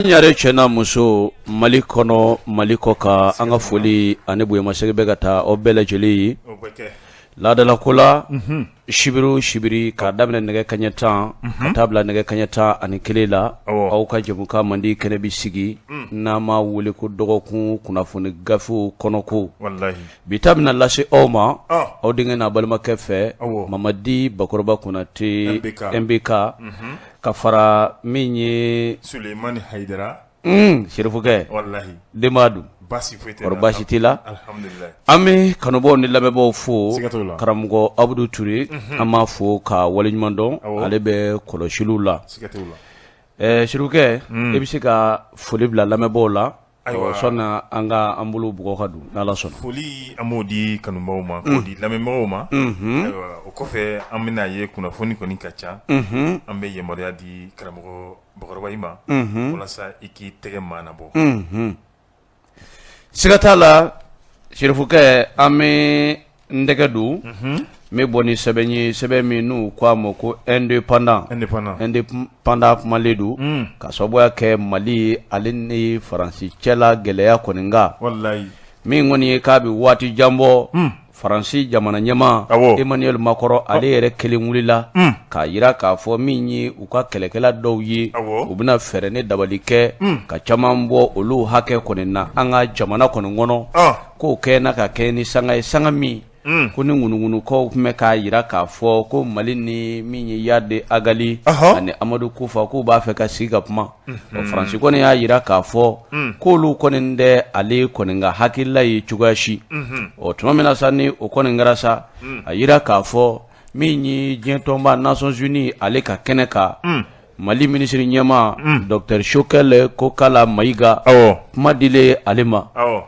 ɲare cɛ n'a muso Mali kɔnɔ Mali kɔ kan an ka foli ani bonyamasegin bɛ ka taa aw bɛɛ lajɛlen ye o bɛ kɛ laadalako la unhun sibiri o sibiri k'a daminɛ nɛgɛ kaɲɛ tan ka taa bila nɛgɛ kaɲɛ tan ani kelen la Awɔ. aw ka jɛmukan mandi kɛnɛ bi sigi n'an m'a wele ko dɔgɔkun kunnafoni gafew kɔnɔko walahi bi ta bɛna lase aw ma Ɔ. aw denkɛ n'a balimakɛ fɛ Awɔ. mamadi bakɔrɔba konate MBK ka fara min ye Sulemani Hayidara Unhun serifukɛ walahi denbaya dun baasi foyi tɛ yen kɔri baasi t'i la alihamidulila an bɛ kanubaaw ni lamɛnbaaw fo siga t'o la karamɔgɔ Abudu Ture unhun an b'a fo k'a waleɲuman dɔn awɔ ale bɛ kɔlɔsiliw la siga t'o la ɛɛ serifukɛ un e bɛ se ka foli bila lamɛnbaaw la Ayiwa sunna an ka an bolo bugɔ ka don n'a la sunna foli an b'o di kanubaaw ma k'o di lamɛnbagaw ma o kɔfɛ an bɛn'a ye kunnafoni kɔni ka ca an bɛ yamaruya di karamɔgɔ Bakɔrɔba i ma walasa i k'i tɛgɛ mana bɔ siga t'a la serifukɛ an bɛ n tɛgɛ don n bɛ bɔ ni sɛbɛn ye sɛbɛn min n'u k'a ma ko Indépendant Indépendant kumalen don ka sababuya kɛ mali ale ni faransi cɛ la gɛlɛya kɔni kan min kɔni ye k'a bɛ waati jan bɔ faransi jamana ɲɛmaa Emmanuel Macron ale yɛrɛ kelen wulila k'a jira k'a fɔ min ye u ka kɛlɛkɛla dɔw ye u bɛna fɛɛrɛ ni dabali kɛ ka caman bɔ olu hakɛ kɔni na an ka jamana kɔni kɔnɔ k'o kɛna ka kɛ ni sanga ye sanga min Mm. kɔni ŋunuŋunukanw tun bɛ k'a jira k'a fɔ ko mali ni min ye Iyad Ag Ghali uh -huh. ani amadu kufa k'u b'a fɛ ka sigi ka kuma mm -hmm. faransi kɔni y'a jira k'a fɔ mm. k'olu kɔni tɛ ale kɔni ka hakilila ye cogoya si mm -hmm. o tuma min na sa ni o kɔni kɛra sa mm. a jira k'a fɔ min ye diɲɛtɔnba Nations Unies ale ka kɛnɛ kan mm. Mali minisiri ɲɛmaa docteur Choguel Kokala Mayiga kuma dilen ale ma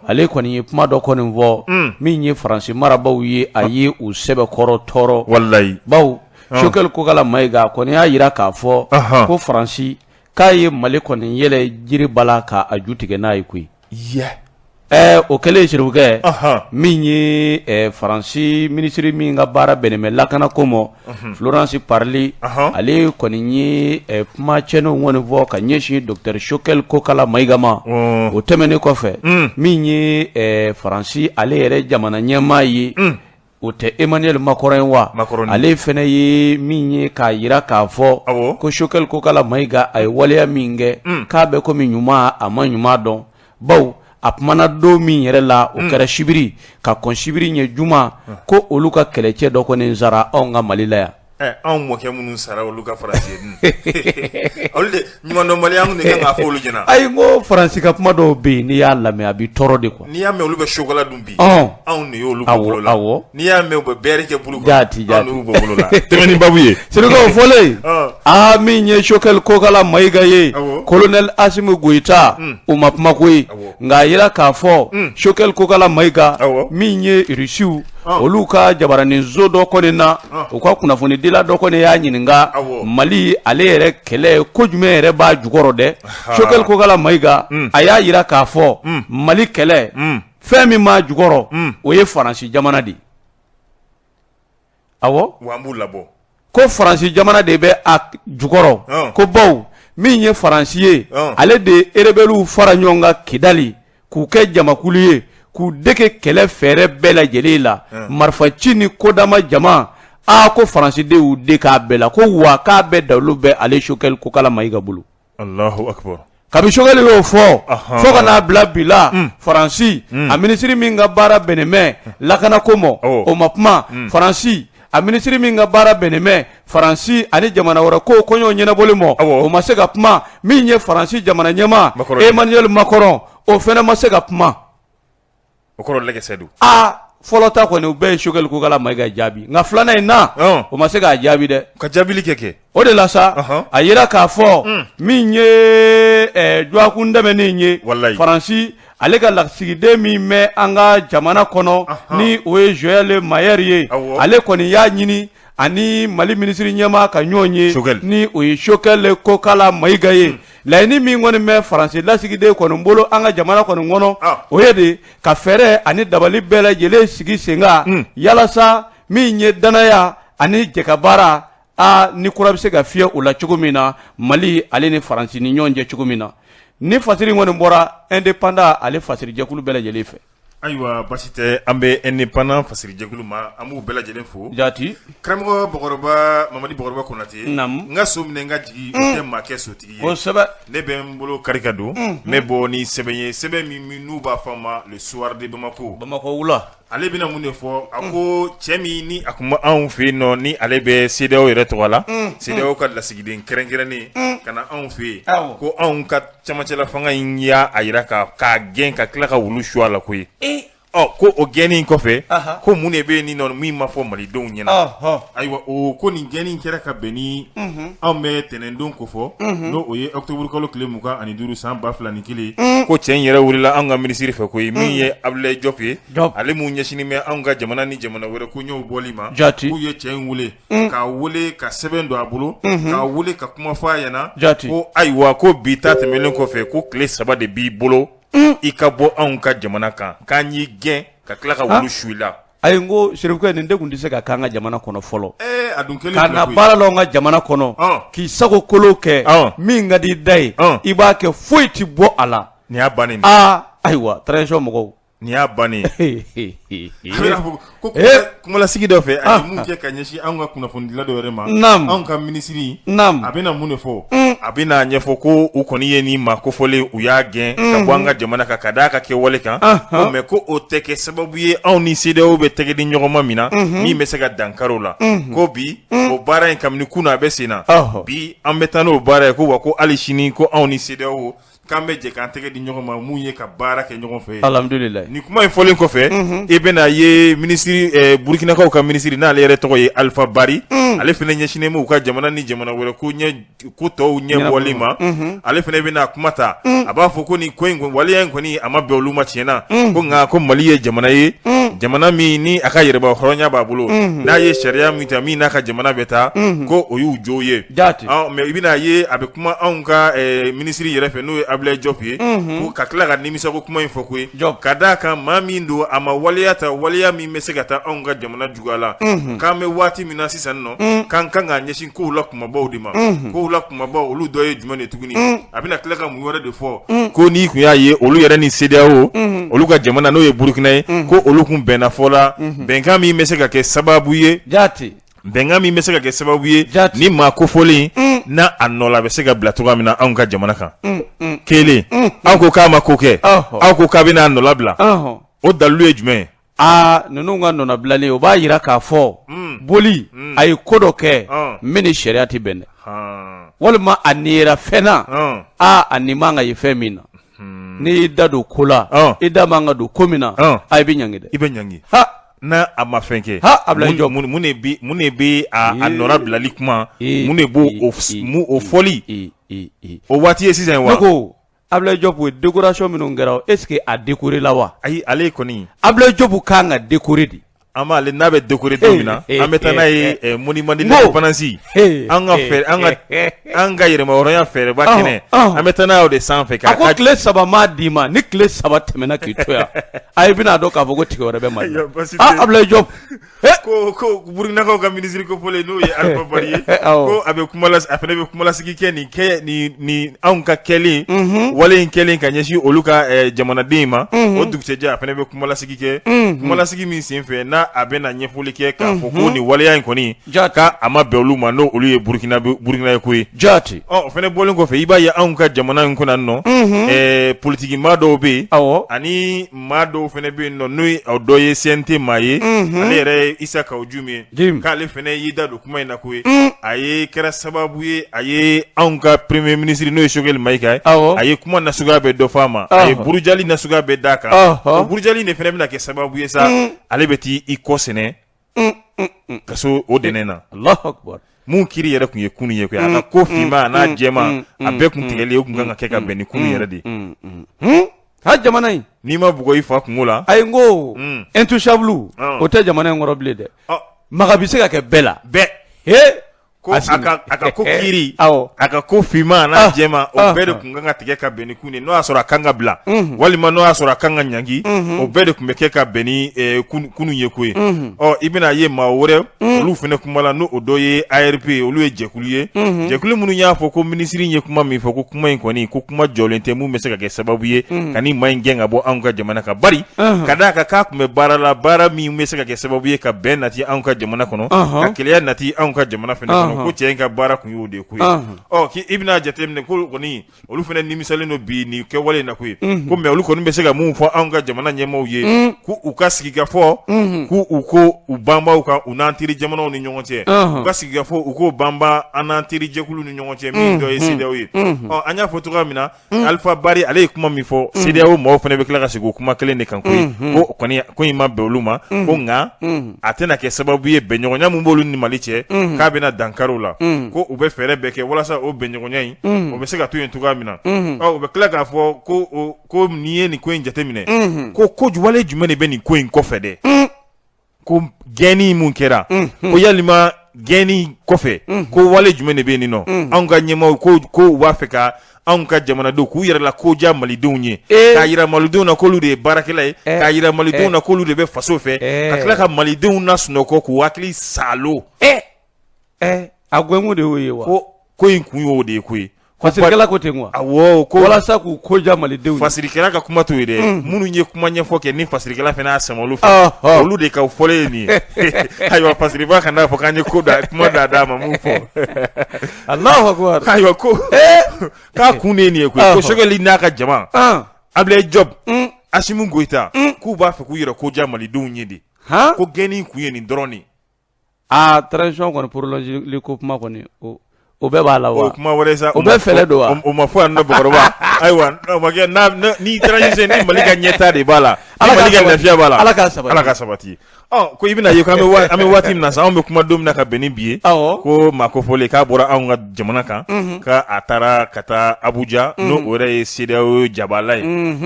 ale kɔni ye kuma dɔ kɔni fɔ min ye faransi marabagaw ye a ye u sɛbɛkɔrɔ tɔɔrɔ walayi bawo Choguel Kokala Mayiga a kɔni y'a jira k'a fɔ ko faransi k'a ye mali kɔni yɛlɛn jiri bala k'a ju tigɛ n'a ye koyi o kɛlen serifukɛ min ye faransi minisiri min ka baara bɛnnen bɛ lakanako ma Florence Parly ale kɔni ye kuma cɛnnenw kɔni fɔ ka ɲɛsin docteur Choguel Kokala Mayiga ma o tɛmɛnen kɔfɛ min ye faransi ale yɛrɛ jamana ɲɛmaa ye O tɛ Emmanuel Macron ye wa? Macron don. Ale fana ye min ye k'a jira k'a fɔ. Awɔ. Ko Choguel Kokala Mayiga a ye waleya min kɛ. Un! K'a bɛ komi ɲuman a ma ɲuman dɔn. Bawo a kumana don min yɛrɛ la. Un! O kɛra sibiri ka kɔn sibiri ɲɛ juma. Un! Ko olu ka kɛlɛcɛ dɔ kɔni sara anw ka Mali la yan. Anw mɔkɛ minnu sara olu ka fara ɲumandɔnbaliya ɲɛna ayi ko faransi ka kuma dɔw bɛ yen n'i y'a lamɛn a b'i tɔɔrɔ de kuwa n'i y'a mɛn olu bɛ sokola dun bi anw de y' olu bɔ bolo la n'i y'a mɛn u bɛ bɛri kɛ buuru kan anw de y'u bɔ bolo la tɛmɛbabu ye sekaw fɔlen aa min ye sokɛli kokala mayiga ye kolonɛli asimi goyita o ma kuma koyi nka a jira k'a fɔ sokɛli kokala mayiga min ye irisiw olu ka jabaraninso dɔ kɔni na u ka kunnafonidila dɔ kɔni y'a ɲininka mali ale yɛrɛ kɛlɛ ko jumɛn yɛrɛ b'a jukɔrɔ dɛ sokɛli kokala mayiga hmm. a y'a jira k'a fɔ hmm. mali kɛlɛ hmm. fɛn min b'a jukɔrɔ o ye faransi jamana de ye ko faransi jamana de bɛ a jukɔrɔ ko baw min ye faransi ye ale de ye erebɛliw fara ɲɔgɔn kan kidali k'u kɛ jamakulu ye k'u dege kɛlɛ fɛɛrɛ bɛɛ lajɛlen la marifa ci ni ko damadama a ko faransi de y'u dege a bɛɛ la ko wa k'a bɛɛ dalu bɛ ale sokɛli kokala mayiga bolo kabi sokɛli y'o fɔ fo ka n'a bila bi la faransi a minisiri min ka baara bɛnnen bɛ lakana ko ma o ma kuma faransi a minisiri min ka baara bɛnnen bɛ faransi ani jamana wɛrɛ ko koɲɛ ɲɛnabɔli ma o ma se ka kuma min ye faransi jamana ɲɛmaa emaniyɛli makɔrɔn o fana ma se ka kuma o kɔrɔ lajɛsɛ don aa fɔlɔ ta kɔni u bɛɛ ye sokɛli kokala mayiga jaabi nka filanan in na o ma se k'a jaabi dɛ ka jaabili kɛ kɛ o de la sa a jira k'a fɔ hmm. min ye dɔgɔkun tɛmɛnen ye faransi ale ka lasigiden min bɛ an ka jamana kɔnɔ ni o ye zowɛli mayɛri ye ale kɔni y'a ɲini ani mali minisiri ɲɛmaa ka ɲɔgɔn ye ni o ye sokɛli kokala mayiga ye hmm. laɲini min kɔni bɛ faransi lasigiden kɔni bolo an ka jamana kɔni kɔnɔ ah. o ye de ka fɛɛrɛ ani dabali bɛɛ lajɛlen sigi sen kan hmm. yalasa min ye dannaya ani jɛkabaara a ni kura bɛ se ka fiyɛ o la cogo min na mali ale ni faransi ni ɲɔgɔn cɛ cogo min na nin fasiri kɔni bɔra independant ale fasirijɛkulu bɛɛ lajɛlen fɛ Ayiwa basi tɛ an bɛ independant fasirijɛkulu ma an b'u bɛɛ lajɛlen fo jati karamɔgɔ bɔkɔrɔba mamadi bɔkɔrɔba konate naamu n ka so minɛ n ka jigin o tɛ maa kɛ sotigi ye kosɛbɛ ne bɛ n bolo kari ka don n bɛ bɔ ni sɛbɛn ye sɛbɛn min n'u b'a fɔ a ma le soir de bamakɔ bamakɔ wula ale bɛna mun de fɔ a ko cɛ min ni a tun bɛ anw fɛ yen nɔ ni ale bɛ sedeyawo yɛrɛ tɔgɔ la sedeyawo ka lasigiden kɛrɛnkɛrɛnnen ka na anw fɛ yen ko anw ka camancɛla fanga in y'a jira k'a gɛn ka tila ka wulu su a la koyi ee ɔ ko o gɛnni in kɔfɛ Aha. ko mun de bɛ yen nin nɔ min ma fɔ malidenw ɲɛna Ɔhɔ. ayiwa o ko nin gɛnni in kɛra ka bɛn ni anw bɛ tɛnɛndon ko fɔ n'o o ye octobre kalo tile mugan ani duuru san ba fila ni kelen ko cɛ in yɛrɛ welela anw ka minisiri fɛ koyi min ye abulayi jɔp ye Jɔp. ale mun ɲɛsinnen bɛ anw ka jamana ni jamana wɛrɛ koɲɛw bɔli ma Jati. k'u ye cɛ in wele k'a weele ka sɛbɛn don a bolo k'a weele ka kuma fɔ a ɲɛna Jaati. ko ayiwa ko bi ta tɛmɛnen kɔfɛ ko tile saba de b'i bolo i ka bɔ anw ka jamana kan k'an y'i gɛn ka tila ka wulu su i la ayi n ko serifukɛ nin de tun tɛ se ka k'an ka jamana kɔnɔ fɔlɔ ee a dunan kelen ka filɛ na koyi. baara la an ka jamana kɔnɔ Ɔn. k'i sago kolo kɛ Ɔn. min ka di i da ye Ɔn. i b'a kɛ foyi tɛ bɔ a la nin y'a bannen de ye. aa ayiwa transition mɔgɔw Nin y'a bannen kumalasigi dɔ fɛ a ye mun kɛ ka ɲɛsin anw ka kunnafonidila dɔ wɛrɛ ma anw ka minisiri a bɛna mun de fɔ a bɛn'a ɲɛfɔ ko u kɔni ye nin maa kofɔlen u y'a gɛn ka bɔ an ka jamana kan ka d'a ka kɛwale kan mɛ ko o tɛ kɛ sababu ye anw ni CEDEAO bɛ tɛgɛ di ɲɔgɔn ma min na min bɛ se ka dankari o la ko bi o baara in kabini kunun a bɛ sen na bi an bɛ taa n'o baara ye ko wa ko ali sini ko anw ni CEDEAO k'an bɛ jɛ k'an tɛgɛ di ɲɔgɔn ma mun ye ka baara kɛ ɲɔgɔn fɛ alihamudulila nin kuma in fɔlen kɔfɛ i bɛna a ye minisiri eh, burukinakaw ka minisiri n'ale yɛrɛ tɔgɔ ye alifa bari mm. ale fana ɲɛsinnen b'u ka jamana ni jamana wɛrɛ ko tɔw ɲɛbɔli ma mm-hmm. ale fana bɛna kuma ta mm. a b'a fɔ ko nin ko in waleya in kɔni a ma bɛn olu ma tiɲɛ na mm. ko nka ko mali ye jamana ye jamana min ni a ka yɛrɛba hɔrɔnya b'a bolo mm-hmm. n'a ye sariya min ta min n'a ka jamana bɛ taa mm-hmm. ko o y'u jo ye mɛ i bɛna a ye a bɛ kuma anw ka minisiri yɛrɛ fɛ n'o ye abudulayi jɔp ye ka tila ka nimisa ko kuma in fɔ koyi ka d'a kan maa min don a ma waleya ta waleya min bɛ se ka taa anw ka jamana juguya la k'an bɛ waati min na sisan nɔ k'an kan ka ɲɛsin kow la kumabaw de ma kow la kumabaw olu dɔ ye jumɛn de tuguni a bɛna tila ka mun wɛrɛ de fɔ ko n'i tun y'a ye olu yɛrɛ ni CEDEAO olu ka jamana n'o ye burukina ye ko olu tun bɛnna fɔ la bɛnkan min bɛ se ka kɛ sababu ye jate Bɛnkan min bɛ se ka kɛ sababu ye ni maa kofɔlen n' a nɔ la a bɛ se ka bila cogoya min na anw ka jamana kan kelen aw ko k'a ma ko kɛ aw ko k'a bɛna a nɔnabila o dalu ye jumɛn ye aa ninnu ka nɔnabilali o b'a jira k'a fɔ boli a ye ko dɔ kɛ min ni sariya tɛ bɛn dɛ walima a nin yera fɛn na aaa a nin man ka ye fɛn min na n'i y'i da don ko la i da man ka don ko min na i bɛ ɲangi dɛ i bɛ ɲ N a ma fɛn kɛ a bila jɔ minnu minnu bɛ nɔ bilali kuma minnu de b'o o fɔli o waati ye sisan wa ko a bila jɔ ko dekurasi minnu kɛra eseke a dekoori la wa ayi ale kɔni a bila jɔbu k' kan ka dekoori de an b'ale n'a bɛ dekoɔride min na an bɛ taa n'a ye mɔnɔni mandi pananasi an ka fɛ an ka An ka yɛrɛmahɔrɔnya fɛrɛba kɛnɛ an bɛ taa n'a o de sanfɛ a ko tile saba maa d'i ma ni tile saba tɛmɛna k'i to yan a i bɛna a dɔn k'a fɔ ko tigi wɛrɛ bɛ mali la abudulayi jɔp ko burukinakaw ka minisiri kofɔlen n'o ye alifa bari ye ko a bɛ a fana bɛ kumalasigi kɛ nin kɛ ni anw ka kɛlen wale in kɛlen ka ɲɛsin olu ka jamanaden in ma o dugusɛjɛ a fana bɛ kumalasigi kɛ kumalasigi min senfɛ n'a a bɛna ɲɛfɔli kɛ k'a fɔ ko ni waleya in kɔni ja ka a ma bɛn olu ma n'o olu ye burukina burukina ye koyi jaati ɔ o fana bɔlen kɔfɛ i b'a ye anw ka jamana in kunna nɔ ɛɛ politigi maa dɔw bɛ yen aw ani maa dɔw fana bɛ yen nɔ n'o ye aw dɔ ye CNT maa ye ale yɛrɛ ye isa kawu jim ye k'ale fana y'i da don kuma in na koyi a ye kɛra sababu ye a ye anw ka premier ministre n'o ye sogɛli mayiga ye aw a ye kuma nasuguya bɛɛ dɔ fɔ a ma a ye burujali nasuguya bɛɛ d' a kan burujali de fana bɛna kɛ sababu ye sa ale bɛ taa i kɔ sɛmɛ kaso o dɛnɛn na alahu akubar min kiri yɛrɛ tun ye kunun ye koyi a ka ko finman a n'a jɛman a bɛɛ tun tigɛli o tun kan ka kɛ ka bɛn ni kunun yɛrɛ de ye ha jamana in n'i ma bugɔ i fa kungo la ayi n ko intouchable o tɛ jamana in kɔrɔ bilen dɛ maga bɛ se ka kɛ bɛɛ la bɛɛ h Ko a ka ko kiri a ka ko finman n'a jɛman o bɛɛ de tun kan ka tigɛ ka bɛn ni kunun n'o y'a sɔrɔ a kan ka bila walima n'o y'a sɔrɔ a kan ka ɲangi o bɛɛ de tun bɛ kɛ ka bɛn ni kunun ye koyi ɔ i bɛna a ye maa wɛrɛ olu fana kumala n'o o dɔ ye ARP ye olu ye jɛkulu ye jɛkulu minnu y'a fɔ ko minisiri ye kuma min fɔ ko kuma in kɔni ko kuma jɔlen tɛ min bɛ se ka kɛ sababu ye ka maa in gɛn ka bɔ anw ka jamana ka ba ka d'a kan k'a tun bɛ baara la baara min bɛ se ka kɛ sababu ye ka bɛn nati anw ka jamana kɔnɔ ka kelenya nati anw ka jamana fana kɔnɔ ko cɛ in ka baara tun y'o de ye koyi ɔ k' i bɛna'a jateminɛ ko kɔni olu fana nimisalen don bi nin kɛwale na koyi ko mɛ olu kɔni bɛ se ka mun fɔ anw ka jamana ɲɛmɔgɔw ye k' u ka sigikafɔ k' u ko u banba o kan u n'an teri jamanaw ni ɲɔgɔn cɛ u ka sigikafɔ u ko banba an n'an terijɛkulu ni ɲɔgɔn cɛ min dɔ ye CEDEAO ye ɔ an y'a fɔ cogoya min na Mm. Alifa Bari ale ye kuma min fɔ mm. CEDEAO mɔgɔw fana bɛ tila ka segin o kuma kelen de kan ko mm-hmm. ko kɔni ko in ma bɛn olu ma mm-hmm. ko nka mm-hmm. a tɛna kɛ sababu ye bɛnɲɔgɔnya min b'olu ni Mali cɛ k'a bɛna dankari o la ko u bɛ fɛɛrɛ bɛɛ kɛ walasa o bɛnɲɔgɔnya in o bɛ se ka to yen cogoya min na ɔ u bɛ tila k'a fɔ ko ko n'i ye nin ko in jateminɛ ko ju wale jumɛn de bɛ nin ko in kɔfɛ dɛ. ko gɛnni mun kɛra ko yali maa gɛnni kɔfɛ ko wale jumɛn de bɛ nin nɔ anw ka ɲɛmaaw ko ko u b'a fɛ ka anw ka jamanadenw k'u yɛrɛ la ko diya malidenw ye k'a jira malidenw na k'olu de ye baarakɛla ye k'a jira malidenw na k'olu de bɛ faso fɛ ka tila ka malidenw nasunɔgɔ k'u hakili saalo ɛ a gɛnkun de y'o ye wa ko ko in kun y'o de ye ko ye fasirikɛla ko ten wa awɔ ko walasa k'u ko diya malidenw fasirikɛla ka kuma t'o ye dɛ mm. minnu ye kuma ɲɛfɔ kɛ ni fasirikɛla fana y'a sama olu fɛ olu de ka fɔlen ye nin ye ayiwa fasiriba kana fɔ k'an ye ko da kuma da da ma mun fɔ alahu akubar ayiwa ko eh? k'a kun de ye nin ye koyi ko sogɛli n'a ka jama abilaye jɔb mm. asimu goyita mm. k'u b'a fɛ k'u yɛrɛ ko diya malidenw ye de ko gɛnni kun ye nin dɔrɔn de aa transition kɔni prolonger li ko kuma kɔni o o bɛɛ b'a la wa o kuma wɛrɛ sa o bɛɛ fɛɛrɛ don wa o ma fɔ yan nɔ bakɔrɔba ayiwa n'o ma kɛ n'a ni transition ni Mali ka ɲɛtaa de b'a la ni Mali ka lafiya b'a la Ala k'a sabati Ala k'a sabati ɔ ko i bɛna a ye ko an bɛ an bɛ waati min na sa anw bɛ kuma don min na ka bɛn ni bi ye awɔ ko maa kofɔlen k'a bɔra anw ka jamana kan ko a taara ka taa Abuja n'o o yɛrɛ ye CEDEAO jabaala ye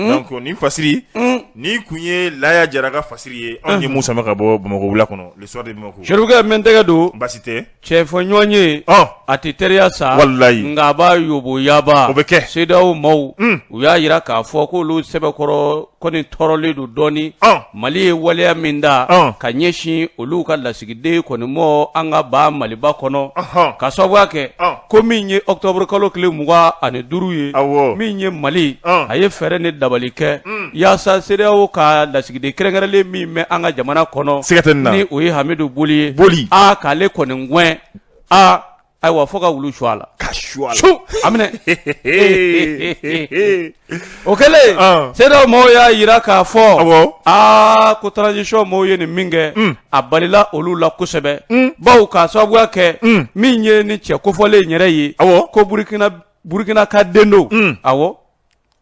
donc nin fasiri Nin tun ye Laya Jara ka fasiri ye anw ye min sama ka bɔ bamakɔ wula kɔnɔ Le Soir de Bamako Serifukɛ mɛn tɛgɛ don baasi tɛ tiɲɛ fɔ ɲɔgɔn ye a tɛ teriya sa walayi nka a b'a yoboyaba o bɛ kɛ CEDEAO maaw u y'a jira k'a fɔ k'olu sɛbɛkɔrɔ kɔni tɔɔrɔlen don dɔɔnin mali ye waleya min ta ka ɲɛsin olu ka lasigiden kɔni ma an ka ba maliba kɔnɔ k'a sababuya kɛ ko min ye octobre kalo tile mugan ani duuru ye awɔ min ye Mali Ɔn. a ye fɛɛrɛ ni dabali kɛ yaasa CEDEAO ka lasigiden kɛrɛnkɛrɛnlen min bɛ an ka jamana kɔnɔ Siga tɛ nin na. ni o ye Hamidu Boli ye Boli. a k'ale kɔni gɛn a ayiwa fo ka wulu su a la ka su a la. su a minɛ Ee, ee, ee. o kɛlen Ɔn. CEDEAO mɔgɔw y'a jira k'a fɔ Awɔ. aa ko transition mɔgɔw ye nin min kɛ Mm. a balila olu la kosɛbɛ Mm. bawo k'a sababuya kɛ Mm. min ye nin cɛ kofɔlen in yɛrɛ ye Awɔ. ko burukina burukina ka den don Mm. awɔ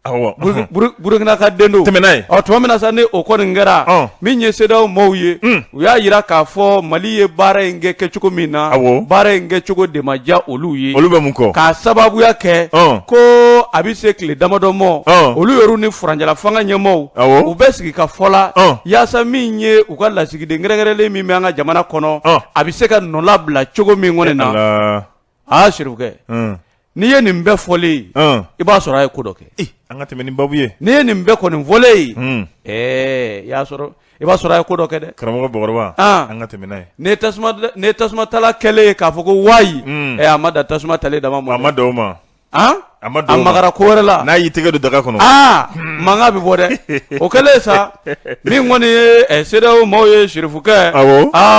awɔ Buru- Buru- burukina ka den don Tɛmɛ n'a ye. ɔ tuma min na sa ni o kɔni kɛra Ɔn. min ye CEDEAO mɔgɔw ye Mm. u y'a jira k'a fɔ mali ye baara in kɛ kɛcogo min na baara in kɛcogo de ma diya olu ye olu bɛ mun kɔ k'a sababuya kɛ ko a bɛ se tile damadɔ ma olu yɛrɛ ni furancɛlafanga ɲɛmɔgɔw u bɛ sigikafɔ la yaasa min ye u ka lasigiden kɛrɛnkɛrɛnlen min bɛ an ka jamana kɔnɔ a bɛ se ka nɔlabila cogo min kɔni na Aa Serifukɛ, un, n'i ye nin bɛɛ fɔlen ye, un, i b'a sɔrɔ a ye ko dɔ kɛ, ee, an ka tɛmɛ ni babu ye, n'i ye nin bɛɛ kɔni fɔlen ye, un, ɛɛ, i y'a sɔrɔ, i b'a sɔrɔ a ye ko dɔ kɛ dɛ, karamɔgɔ Bakɔrɔba, an, an ka tɛmɛ n'a ye, nin ye tasuma, nin ye tasuma tala kɛlen ye k'a fɔ ko wayi, un, ɛ a ma dan tasuma tali dama ma dɛ, a ma dan o ma, A a magara ko wɛrɛ la n'a y'i tɛgɛ don daga kɔnɔ aa mankan bɛ bɔ dɛ o kɛlen sa min kɔni ye CEDEAO maaw ye Serifukɛ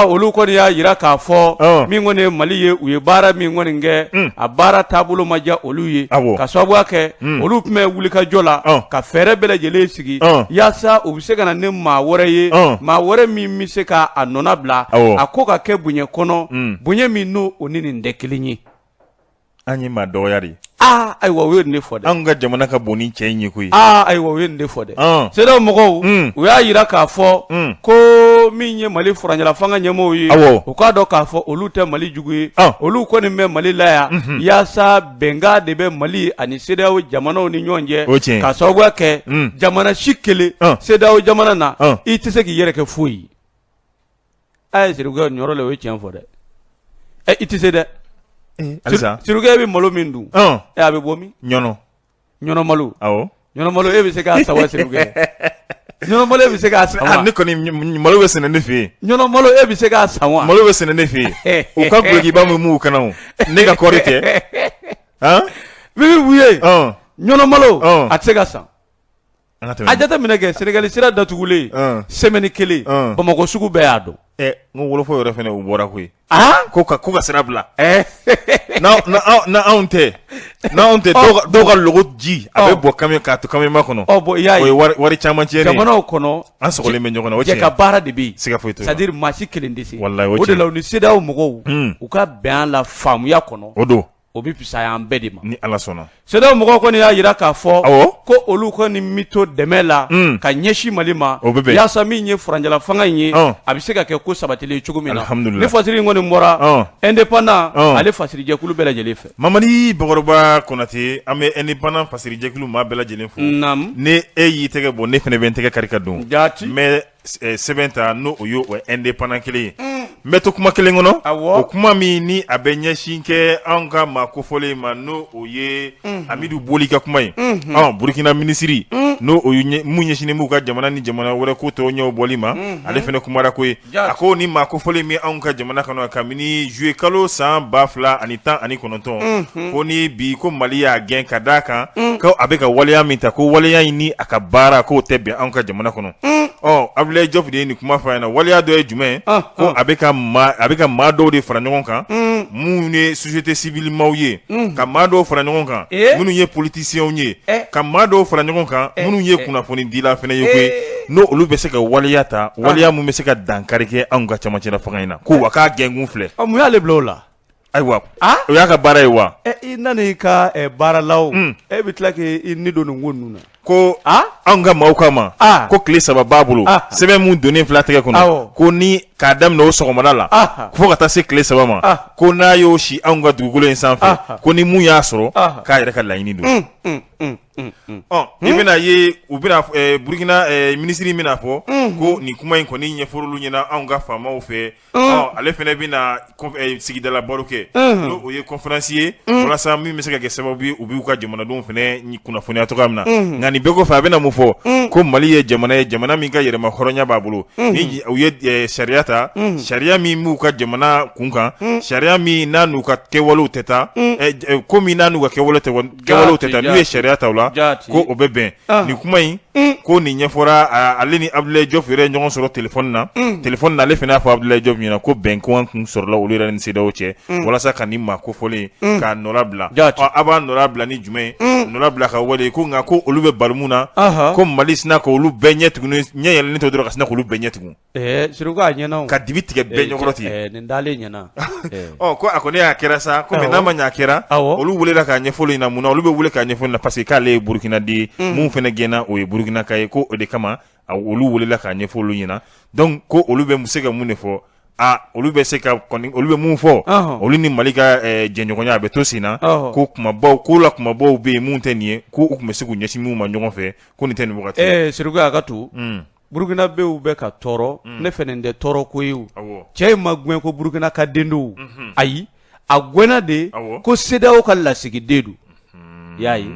olu kɔni y'a jira k'a fɔ min kɔni ye mali ye u ye baara min kɔni kɛ a baara taabolo ma diya olu ye k'a sababuya kɛ olu tun bɛ wulikajɔ la ka fɛɛrɛ bɛɛ lajɛlen sigi yaasa u bɛ se ka na ni maa wɛrɛ ye maa wɛrɛ min bɛ se k'a nɔnabila a ko ka kɛ bonya kɔnɔ bonya min n' o ni nin tɛ kelen ye an ye maa dɔgɔya de aa ayiwa u ye nin de fɔ dɛ anw ka jamana ka bon ni cɛ in ye koyi aa ayiwa u ye nin de fɔ dɛ CEDEAO mɔgɔw hmm. u y'a yira k'a fɔ hmm. ko min ye mali furancɛlafanga ɲɛmɔgɔw ye awɔ u k'a dɔn k'a fɔ olu tɛ mali jugu ye olu kɔni bɛ mali la yan mhm. yaasa bɛnkan de bɛ mali ani CEDEAO jamanaw ni ɲɔgɔn cɛ o tiɲɛ k'a sababuya kɛ hmm. jamana si kelen CEDEAO jamana na i tɛ se k'i yɛrɛ kɛ foyi a ye sirikɛ ni yɔrɔ la o ye tiɲɛ fɔ dɛ ɛ i tɛ se dɛ sirikɛ bɛ malo min dun a bɛ bɔ min ɲɔnɔ malo ɲɔnɔ malo e bɛ se k'a san wa sirikɛ ɲɔnɔ malo e bɛ se k'a san wa ne kɔni malo bɛ sɛnɛ ne fɛ yen ɲɔnɔ malo e bɛ se k'a san wa malo bɛ sɛnɛ ne fɛ yen u ka gkiba min m'u kana ne ka kɔɔri tɛ min bɛ wuli ɲɔnɔ malo a tɛ se ka san An ka tɛmɛ. A jate minɛ kɛ Senegali sira datugulen. Ɔn! Semaine kelen. Ɔn! Bamakɔ sugu bɛɛ y'a dɔn. Ɛ n ko wolofɔ yɛrɛ fɛnɛ u bɔra koyi. Aa! Ko ka ko ka sira bila. Ɛɛ! N'aw n'aw n'anw tɛ n'anw tɛ dɔw ka dɔw ka logo ji. A bɛ bɔn camion k'a to camion ba kɔnɔ. Ɔ bon i y'a ye. O ye wari wari caman tiɲɛnen ye. Jamanaw kɔnɔ. An sɔgɔlen bɛ ɲɔgɔn na o tiɲɛ ye. Jɛ ka baara de bɛ yen. Siga foyi t'o la. C'est à dire maa si kelen tɛ se. Walayi o tiɲɛ ye. O de la u ni CEDEAO mɔgɔw. Un! U ka bɛn a la faamuya kɔnɔ. O don. o bɛ fisaya an bɛɛ de ma ni ala sɔnna CEDEAO mɔgɔw kɔni y'a yira k'a fɔ ko olu kɔni bɛ to dɛmɛ la hmm. ka ɲɛsin mali ma o bɛ yaasa min ye furancɛla fanga in ye a bɛ se ka kɛ ko sabatilen cogo min na ni fasiri in kɔni bɔra indépendant ale fasirijɛkulu bɛɛ lajɛlen fɛ mamadi bakɔrɔba konate an bɛ indépendant fasirijɛkulu maa bɛɛ lajɛlen fo ni e y'i tɛgɛ bɔ ne fɛnɛ bɛ n tɛgɛ kari ka don jate mais sɛbɛn ta n'o o ye o indépendant kelen ye n bɛ to kuma kelen kɔnɔ o kuma min ni a bɛ ɲɛsin kɛ an ka maa kofɔlen in ma n'o o ye amidu boli ka kuma ye burukina minisiri n'o min ɲɛsinnen b'u ka jamana ni jamana wɛrɛ ko tɔw ɲɛbɔli ma ale fɛnɛ kumara ko ye a ko ni maa kofɔlen min anw ka jamana kɔnɔ kabini zuye kalo san ba fila ani tan ani kɔnɔntɔn ko ni bi ko mali y'a gɛn ka d'a kan a bɛ ka waleya min ta ko waleya in ni a ka baara k'o tɛ bɛn an ka jamana kɔnɔ ɔ abilaye jɔfu de ye nin kuma fɔ a ɲɛna waleya dɔ ye jumɛn ye Ɔn, ko ɔn. a bɛ ka maa a bɛ ka maa dɔw de fara ɲɔgɔn kan minnu ye société civile maaw ye ka maa dɔw fara ɲɔgɔn kan Eh. minnu ye politiciens ye Eh. ka maa dɔw fara ɲɔgɔn kan minnu ye eh. kunnafoni dila fɛnɛ ye koyi Eh. n'o olu bɛ se ka waleya ta waleya min bɛ se ka dankari kɛ anw ka camancɛla fanga in na ko wa k'a gɛnkun filɛ ɔ mun y'ale bila o la Ayiwa o y'a ka baara ye wa i nana i ka baaralaw e bɛ tila k'i ni don nin ko ninnu na ko anw ka maaw kama ko tile saba b'a bolo sɛbɛn min donnen fila tɛgɛ kɔnɔ ko ni k'a daminɛ o sɔgɔmada la fo ka taa se tile saba ma ko n'a y'o si anw ka dugukolo in sanfɛ ko ni mun y'a sɔrɔ k'a yɛrɛ ka laɲini don i bɛna ye u bɛ burukina minisiri bɛna fɔ ko nin kuma in kɔni ɲɛfɔr'olu ɲɛna anw ka faamaw fɛ Ale fɛnɛ bɛna sigidala baro kɛ n'o ye conférence ye walasa min bɛ se ka kɛ sababu ye u b'u ka jamanadenw fɛnɛ kunnafoniya cogoya min na nka nin bɛɛ kɔfɛ a bɛna mun fɔ ko mali ye jamana ye jamana min ka yɛrɛmahɔrɔnya b'a bolo ni u ye sariya ta sariya min b'u ka jamana kunkan sariya min n'a n'u ka kɛwalew tɛ taa ko min n'a n'u ka kɛwale tɛ gɛnw tɛ taa n'u ye sariya ta la ko o bɛ bɛn nin kuma in ko nin ɲɛfɔra ale ni abudulayi jɔpu yɛrɛ ye ɲɔgɔn sɔrɔ téléphone na téléphone na ale fana y'a fɔ abudulayi jɔpu ɲɛna ko bɛnkan tun sɔrɔla olu yɛrɛ ni sedeyawo cɛ walasa ka nin maa kofɔlen k'a nɔ bila aw b'a nɔ bila ni jumɛn nɔ bila ka wale ko nka ko olu bɛ bali mun na ko mali sinna ka olu bɛɛ ɲɛ ɲɛ yɛlɛlen to dɔrɔn ka sina k'olu bɛɛ ɲɛ tugun Ɛɛ siruku a ɲɛna ka dibi tigɛ bɛɛ ɲɛkɔrɔ ten nin dalen ɲɛna ko a kɔni y'a kɛra sa kɔmi n'a ma y'a kɛra olu welela k'a ɲɛfɔ olu ɲɛna mun na olu bɛ wele k'a ɲɛfɔ olu ɲɛna parce que k'ale ye burukina de ye min fana gɛnna o ye burukinaka ye ko o de kama a olu welela k'a ɲɛfɔ olu ɲɛna dɔnku ko olu bɛ se ka mun de fɔ aa olu bɛ se ka olu bɛ min fɔ olu ni mali ka jɛɲɔgɔnya a bɛ to sen na ko kumabaw ko la kumabaw bɛ yen minnu tɛ nin ye k' u tun bɛ se k'u ɲɛsin minnu ma ɲɔgɔn fɛ ko nin tɛ nin siruku a ka to Burukinabew bɛ ka tɔɔrɔ ne fɛ nin tɛ tɔɔrɔ ko ye cɛ in ma gɛn ko burukina ka den don ayi a gɛnna de ko sedeyawo ka lasigiden don y'a ye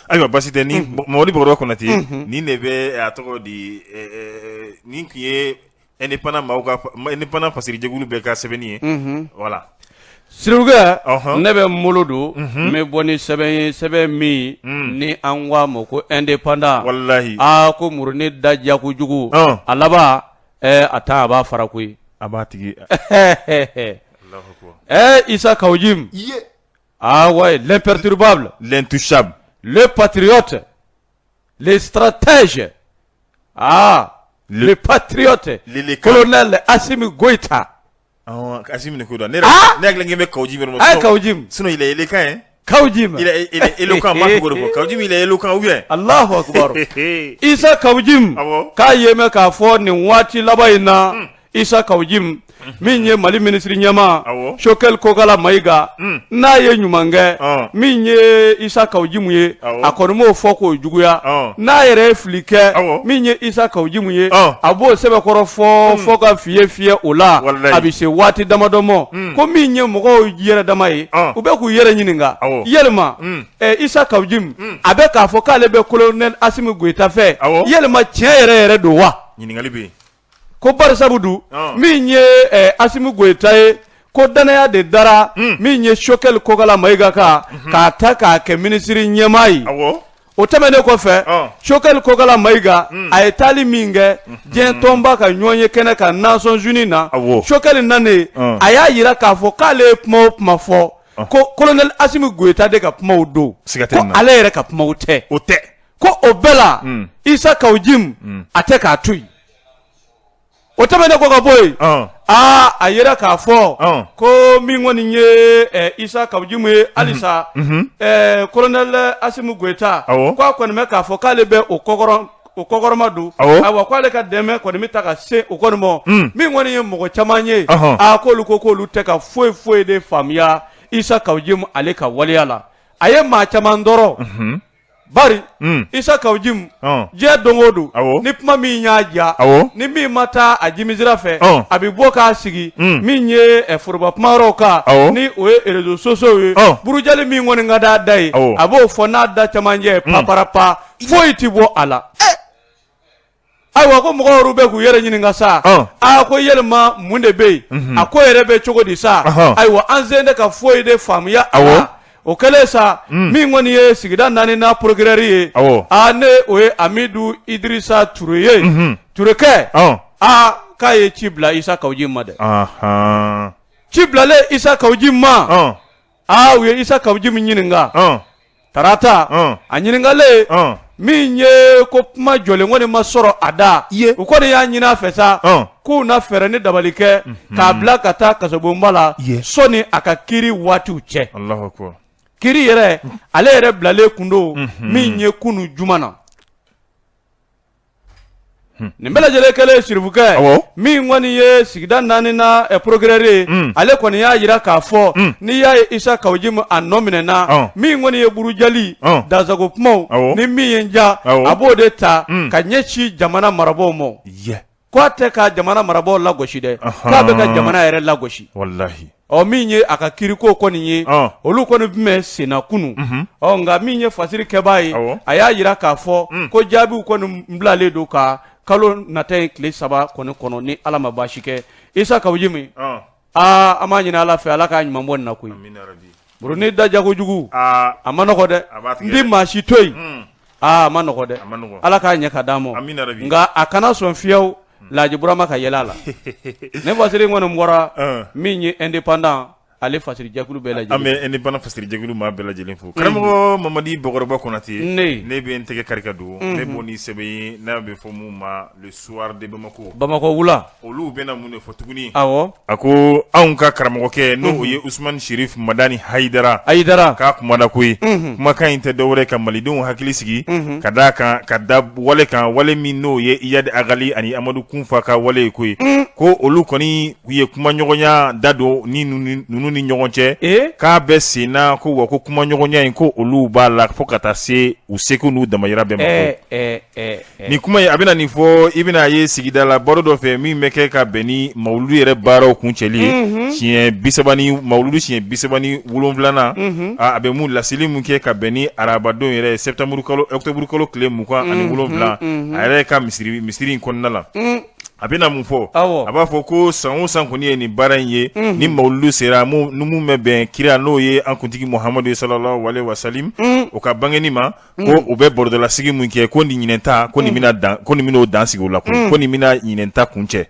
ayiwa basi tɛ ni mɔli bakɔrɔba konate nin de bɛ a tɔgɔ di nin tun ye indépendant fasirijɛkulu bɛɛ ka sɛbɛnni ye voilà Siruku ne bɛ n bolo don n bɛ bɔ ni sɛbɛn ye sɛbɛn min ni an ko a ma ko indépendant walayi aa ko murunin da diya kojugu a laban a tan a b'a fara koyi a b'a tigi ɛɛ isa kawu jimu aa ouais l'imperturbable l'intouchable le patriote le stratège aa le patriote le colonel asimi goyita Asimi goyita ne hakili bɛ kawu jimu ne ma ka sinon il est éloquent hein kawu jimu a kawu jimu isa kawu jimu k'an y'a mɛn k'a fɔ nin waati laban in na isa kawu jimu min ye mali minisiri ɲɛmaa sokɛli kokala mayiga n'a ye ɲuman kɛ min ye isa kawu jimu ye a kɔni m'o fɔ kojuguya n'a yɛrɛ fili kɛ min ye isa kawu jimu ye a b'o sɛbɛkɔrɔ fɔ fɔ ka fiyɛ fiyɛ o la a bɛ se waati damadɔ ma ko min ye mɔgɔw yɛrɛ dama ye u bɛ k'u yɛrɛ ɲininka yɛlɛma isa kawu jimu a bɛ k'a fɔ k'ale bɛ kolonɛli asimi goyita fɛ yɛlɛma tiɲɛ yɛrɛ yɛrɛ don wa ko barisabu dun ah. min ye eh, asimi goyita ye ko dannaya de dara hmm. min ye sokɛli kokala mayiga kan mhm. k'a ta k'a kɛ minisiri ɲɛmaa ye o tɛmɛnen kɔfɛ ah. sokɛli kokala mayiga hmm. a ye taali min kɛ mhm. diɲɛ tɔnba ka ɲɔgɔnye kɛnɛ kan Nations Unies na sokɛli nanen ah. a y'a yira k'a fɔ k'ale ye kuma o kuma fɔ ko kolonɛli asimi goyita de ka kumaw don ko ale yɛrɛ ka kumaw tɛ o tɛ ko o bɛɛ la mm. isa kaw jim mm. a tɛ k'a to yen o tɛmɛnen kɔ ka bɔ yen aa ah, a y'a yira k'a fɔ ah. ko min kɔni ye eh, isa kaw jim ye halisa mhm. mhm. eh, kolonɛli eh, asimi goyita ko a kɔni bɛ k'a fɔ k'ale bɛ o kɔkɔrɔ o kɔkɔrɔma don ayiwa ko ale ka dɛmɛ kɔni bɛ ta ka se o kɔni ma mm. min kɔni ye mɔgɔ caman ye a ah, k'olu ko k'olu tɛ ka foyi foyi de faamuya isa kaw jim ale ka waleya la a ye maa caman tɔɔrɔ mhm. Bari isa kaw jim diɲɛ don o don ni kuma min y'a diya ni min ma taa a jimi sira fɛ a bɛ bɔ k'a sigi min ye foroba kumayɔrɔw kan ni o ye réseaux sociaux ye burujali min kɔni ka d'a da ye a b'o fɔ n'a da camancɛ paparapa foyi tɛ bɔ a la ayiwa ko mɔgɔw yɛrɛ bɛ k'u yɛrɛ ɲininka sa aa ko yɛlɛma mun de bɛ yen a ko yɛrɛ bɛ cogo di sa ayiwa an sen tɛ ka foyi de faamuya awa o kɛlen sa mm. min kɔni ye sigida naani na porokirɛri ye aa ni o ye amidu idirisa ture ye mhm. turekɛ aa k'a ye ci bila isa kaw jim ma dɛ ci bilalen isa kaw jim ma aa u ye isa kaw jim ɲininka ɔn tarata ɔn a ɲininkalen ɔn min ye ko kuma jɔlen kɔni ma sɔrɔ a da Ye. u kɔni y'a ɲini a fɛ sa Ɔn. k'u na fɛɛrɛ ni dabali kɛ k'a bila ka taa kasobonba la Ye. sɔni a ka kiri waatiw cɛ alahu akubar kiri yɛrɛ ale yɛrɛ bilalen kun don min ye kunu juma na Hmm. nin bɛɛ lajɛlen kɛlen sirifukɛ min kɔni ye sigida naani na eh, porokirɛri ye hmm. ale kɔni y'a jira k'a fɔ hmm. n'i y'a ye isa kaw jim a nɔ minɛna min kɔni ye burujali dansago kumaw ni min ye n diya a b'o de ta ka ɲɛsin jamana marabaaw ma k'a tɛ ka jamana marabaaw lagosi dɛ k'a bɛ ka jamana yɛrɛ lagosi ɔ min ye a ka kiriko kɔni ye Ɔn. olu kɔni tun bɛ senna kunu ɔ nka min ye fasiri kɛbaa ye Awɔ. a y'a jira k'a fɔ ko jaabiw kɔni bilalen don ka kalo nata ye tile saba kɔni kɔnɔ ni ala ma baasi kɛ isa kaw jim Ɔn. aa an b'a ɲini ala fɛ ala k'a ɲuman bɔ nin na koyi Amina rabi. Bourounin da jago jugu aa a ma nɔgɔ dɛ a b'a tigɛ n tɛ maa si to yen Hun. aa a ma nɔgɔ dɛ A ma nɔgɔ. ala k'a ɲɛ ka d'a ma Amina rabi. nka a kana sɔn fiyewu Laaji Burama ka yɛlɛ a la ne fasiri kɔni n bɔra Ɔn. min ye indépendant ale fasiri jɛkulu bɛɛ lajɛlen indépendant fasiri jɛkulu maa bɛɛ lajɛlen fo karamɔgɔ mamadi bakɔrɔba konate Ne. ne bɛ n tɛgɛ kari ka don kunnafoni sɛbɛn ye n'a bɛ fɔ mun ma le soir de bamako bamakɔ wula olu bɛna mun de fɔ tuguni awɔ a ko anw ka karamɔgɔkɛ n'o ye Usumani Serif Madani Hayidara Hayidara ka kuma da koyi kumakan in tɛ dɔwɛrɛ ka malidenw hakili sigi ka d'a kan ka da wale kan wale min n'o ye Iyadi Agali ani Amadu Kunfa ka wale ye koyi ko olu kɔni u ye kumaɲɔgɔnya da don ni ninnu ni ɲɔgɔn cɛ k'a bɛ senna ko wa ko kumaɲɔgɔnya in ko olu b'a la fo ka taa se u seko n'u damayira bɛɛ ma Nin kuma ye a bɛna nin fɔ i bɛna a ye sigida la baro dɔ fɛ min bɛ kɛ ka bɛn ni mawuludu yɛrɛ baaraw kuncɛli ye tiɲɛ bi mawuludu siɲɛ bisaba ni wolonwulanan a bɛ mun laseli min kɛ ka bɛn ni arabadon yɛrɛ ɔkutɔburukalo tile mugan ani wolonwula a yɛrɛ ka misiri misiri in kɔnɔna la a bɛna mun fɔ a b'a fɔ ko san o san kɔni ye nin baara in ye ni mawuludu sera min bɛ bɛn kira n'o ye an kuntigi Muhamadu salalahu alayihi wasalamu o ka bangeni ma ko mm. u bɛ bɔrɔdɔlasigi min kɛ ko nin ɲinɛn ta ko nin mm. bɛna dan ko nin bɛn'o dan sigi o la mm. ko nin bɛna ɲinɛn ta kuncɛ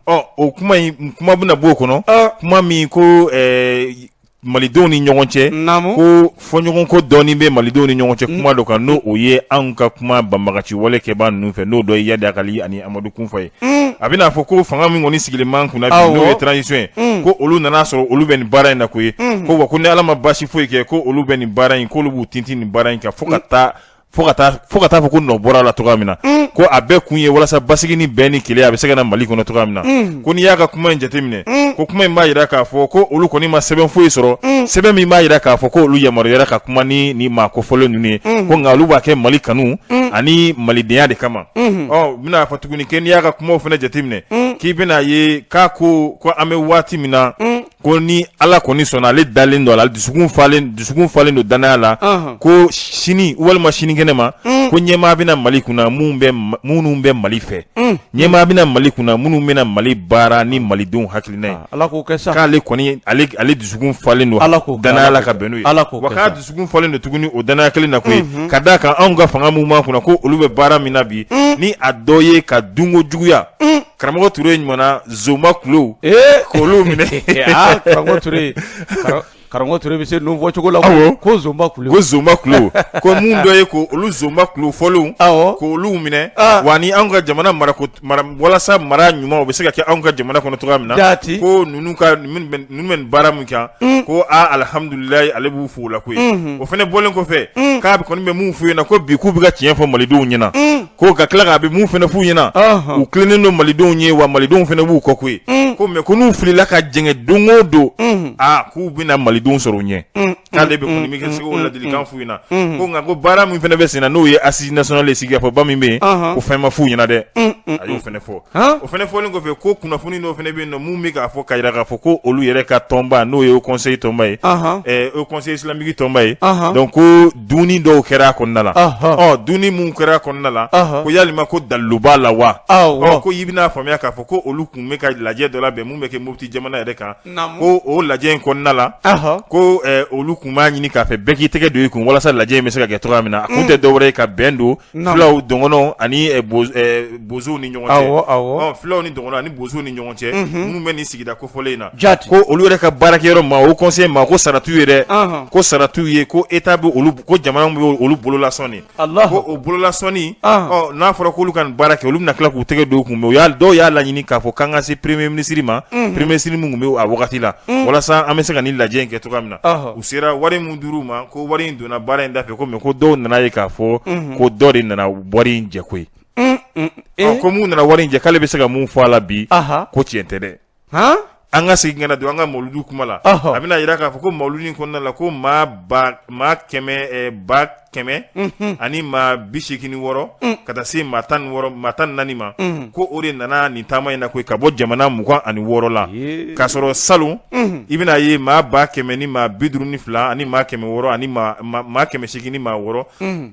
ɔ o kuma in kuma bɛna b'o kɔnɔ kuma min ko ɛɛ malidenw ni ɲɔgɔn cɛ ko fɔɲɔgɔnko dɔɔni bɛ malidenw ni ɲɔgɔn cɛ kuma dɔ kan n'o o ye anw ka kuma banbagaciwale kɛbaa ninnu fɛ n'o dɔ ye Iyadi Agali ani Amadu Kunfa ye mm. a bɛna fɔ ko fanga min kɔni sigilen b'an kunna bi n'o ye transition ye mm. ko olu nana sɔrɔ olu bɛ nin baara in na koyi mm. ko wa ko ni ala ma baasi foyi kɛ ko olu bɛ nin baara in k'olu b'u tintin nin baara in kan fo ka taa fo ka taa fo ka taa fɔ ko nɔ bɔr'a la cogoya min na ko a bɛɛ kun ye walasa basigi ni bɛn ni kelenya a bɛ se ka na mali kɔnɔ cogoya min na ko n'i y'a ka kuma in jateminɛ ko kuma in b'a yira k'a fɔ ko olu kɔni ma sɛbɛn foyi sɔrɔ sɛbɛn min b'a yira k'a fɔ ko olu yamaruyara ka kuma ni ni maa kofɔlen ninnu ye ko nka olu b'a kɛ mali kanu ani malidenya de kama a bɛn'a fɔ tuguni kɛ n'i y'a ka kumaw fana jateminɛ k'i bɛn'a ye k'a ko ko an bɛ waati min na ko ni Ala kɔni sɔnna ale dalen don a la dusukun falen dusukun falen don dannaya la ko sini walima sinikɛnɛ ma ko ɲɛmaa bɛna Mali kunna minnu bɛ minnu bɛ Mali fɛ ɲɛmaa bɛna Mali kunna minnu bɛna Mali baara ni malidenw hakilina ye Ala k'o kɛ sa k'ale kɔni ale dusukun falen don Ala k'o kɛ dannaya la ka bɛn n'o ye Ala k'o kɛ sa wa k'a dusu kun falen don tuguni o dannaya kelen na koyi mhm. ka da kan anw ka fanga minnu b'an kunna ko olu bɛ baara min na bi mm. ni a dɔ ye ka dunko juguya mm. karamɔgɔ ture ɲumanna zonba kulo eh. k'olu minɛ ah, karamɔgɔ ture karamɔgɔ ture bɛ se ninnu fɔ cogo la ko zonba kulo ko zonba kulo ko mun dɔ ye ko olu zonba kulo fɔlenw k'olu minɛ ah. wa ni anw ka jamana marako walasa mara ɲuman o bɛ se ka kɛ anw ka jamana kɔnɔ cogoya min na jaati ko ninnu ka bɛ baara min kan mm. ko aaa alihamdulilalayi ale b'u fo o la koyi mm-hmm. o fana bɔlen kɔfɛ mm. k'a kɔni bɛ min f'u ɲɛna ko bi k'u bɛ ka tiɲɛ fɔ malidenw ɲɛna mm. ko ka tila k'a bɛ min fana f'u ɲɛna uh-huh. u tilennen don malidenw ye wa malidenw fana b'u kɔ koyi ko mɛ ko n'u filila ka jɛngɛ don o don mm-hmm. aa k'u bɛna malidenw sɔrɔ u ɲɛ k'ale bɛ kɔni bɛ kɛ se k'o ladilikan f'u ɲɛna ko nka ko baara min fana bɛ senna n'o ye assise nationale ye sigikafɔba min bɛ yen ko fɛn ma f'u ɲɛna dɛ a y'o fana fɔ o fana fɔlen kɔfɛ ko kunnafoni dɔw fana bɛ yen nɔ mun bɛ k'a fɔ k'a jira k'a fɔ ko olu yɛrɛ ka tɔnba n'o ye haut conseil tɔnba ye haut conseil islamique tɔnba ye donc ko dumuni dɔw kɛra a kɔnɔna la ɔ dumuni minnu kɛra a kɔnɔna la ko yalima ko dalilu b'a la wa ɔ ko i bɛna a faamuya k'a fɔ ko olu tun bɛ ka lajɛ dɔ labɛn mun bɛ kɛ Mopti jamana yɛrɛ kan ko o lajɛ in kɔnɔna la ko olu tun b'a ɲini k'a fɛ bɛɛ k'i tɛgɛ don i kun walasa lajɛ in bɛ se ka kɛ cogoya min na a kun tɛ dɔwɛrɛ ye ka bɛn don fulaw dɔgɔnɔw ani bozow ni ɲɔgɔn cɛ fulaw ni dɔgɔnɔw ani bozow ni ɲɔgɔn cɛ minnu bɛ nin sigida kofɔlen in na ko olu yɛrɛ ka baarakɛyɔrɔ ma haut conseil ma ko saratu yɛrɛ ko saratu ye ko état bɛ ko jamana bɛ olu bololasɔn ko o bololasɔnni n'a fɔra k'olu ka nin baara kɛ olu bɛna tila k'u tɛgɛ don u kun mais dɔw y'a laɲini k'a fɔ k'an ka se premier ministre ma premier ministre min tun bɛ a wagati la walasa an bɛ se ka nin lajɛ in kɛ cogoya min na u sera wari min dir'u ma ko wari in donna baara in da fɛ ko mais ko dɔw nana ye k'a fɔ ko dɔ de nana wari in jɛ koyi ko min nana wari in jɛ k'ale bɛ se ka mun fɔ a la bi ko tiɲɛ tɛ dɛ an ka segin ka na don an ka mawludu kuma la a bɛna jira k'a fɔ ko mawludu in kɔnɔna la ko maa ba maa kɛmɛ ba kɛmɛ ani maa bi seegin ni wɔɔrɔ ka taa se maa tan ni naani ma ko o de nana nin taama in na koyi ka bɔ jamana mugan ani wɔɔrɔ la k'a sɔrɔ salon i bɛna ye maa ba kɛmɛ ni maa bi duuru ni fila ani maa kɛmɛ wɔɔrɔ ani maa kɛmɛ seegin ni maa wɔɔrɔ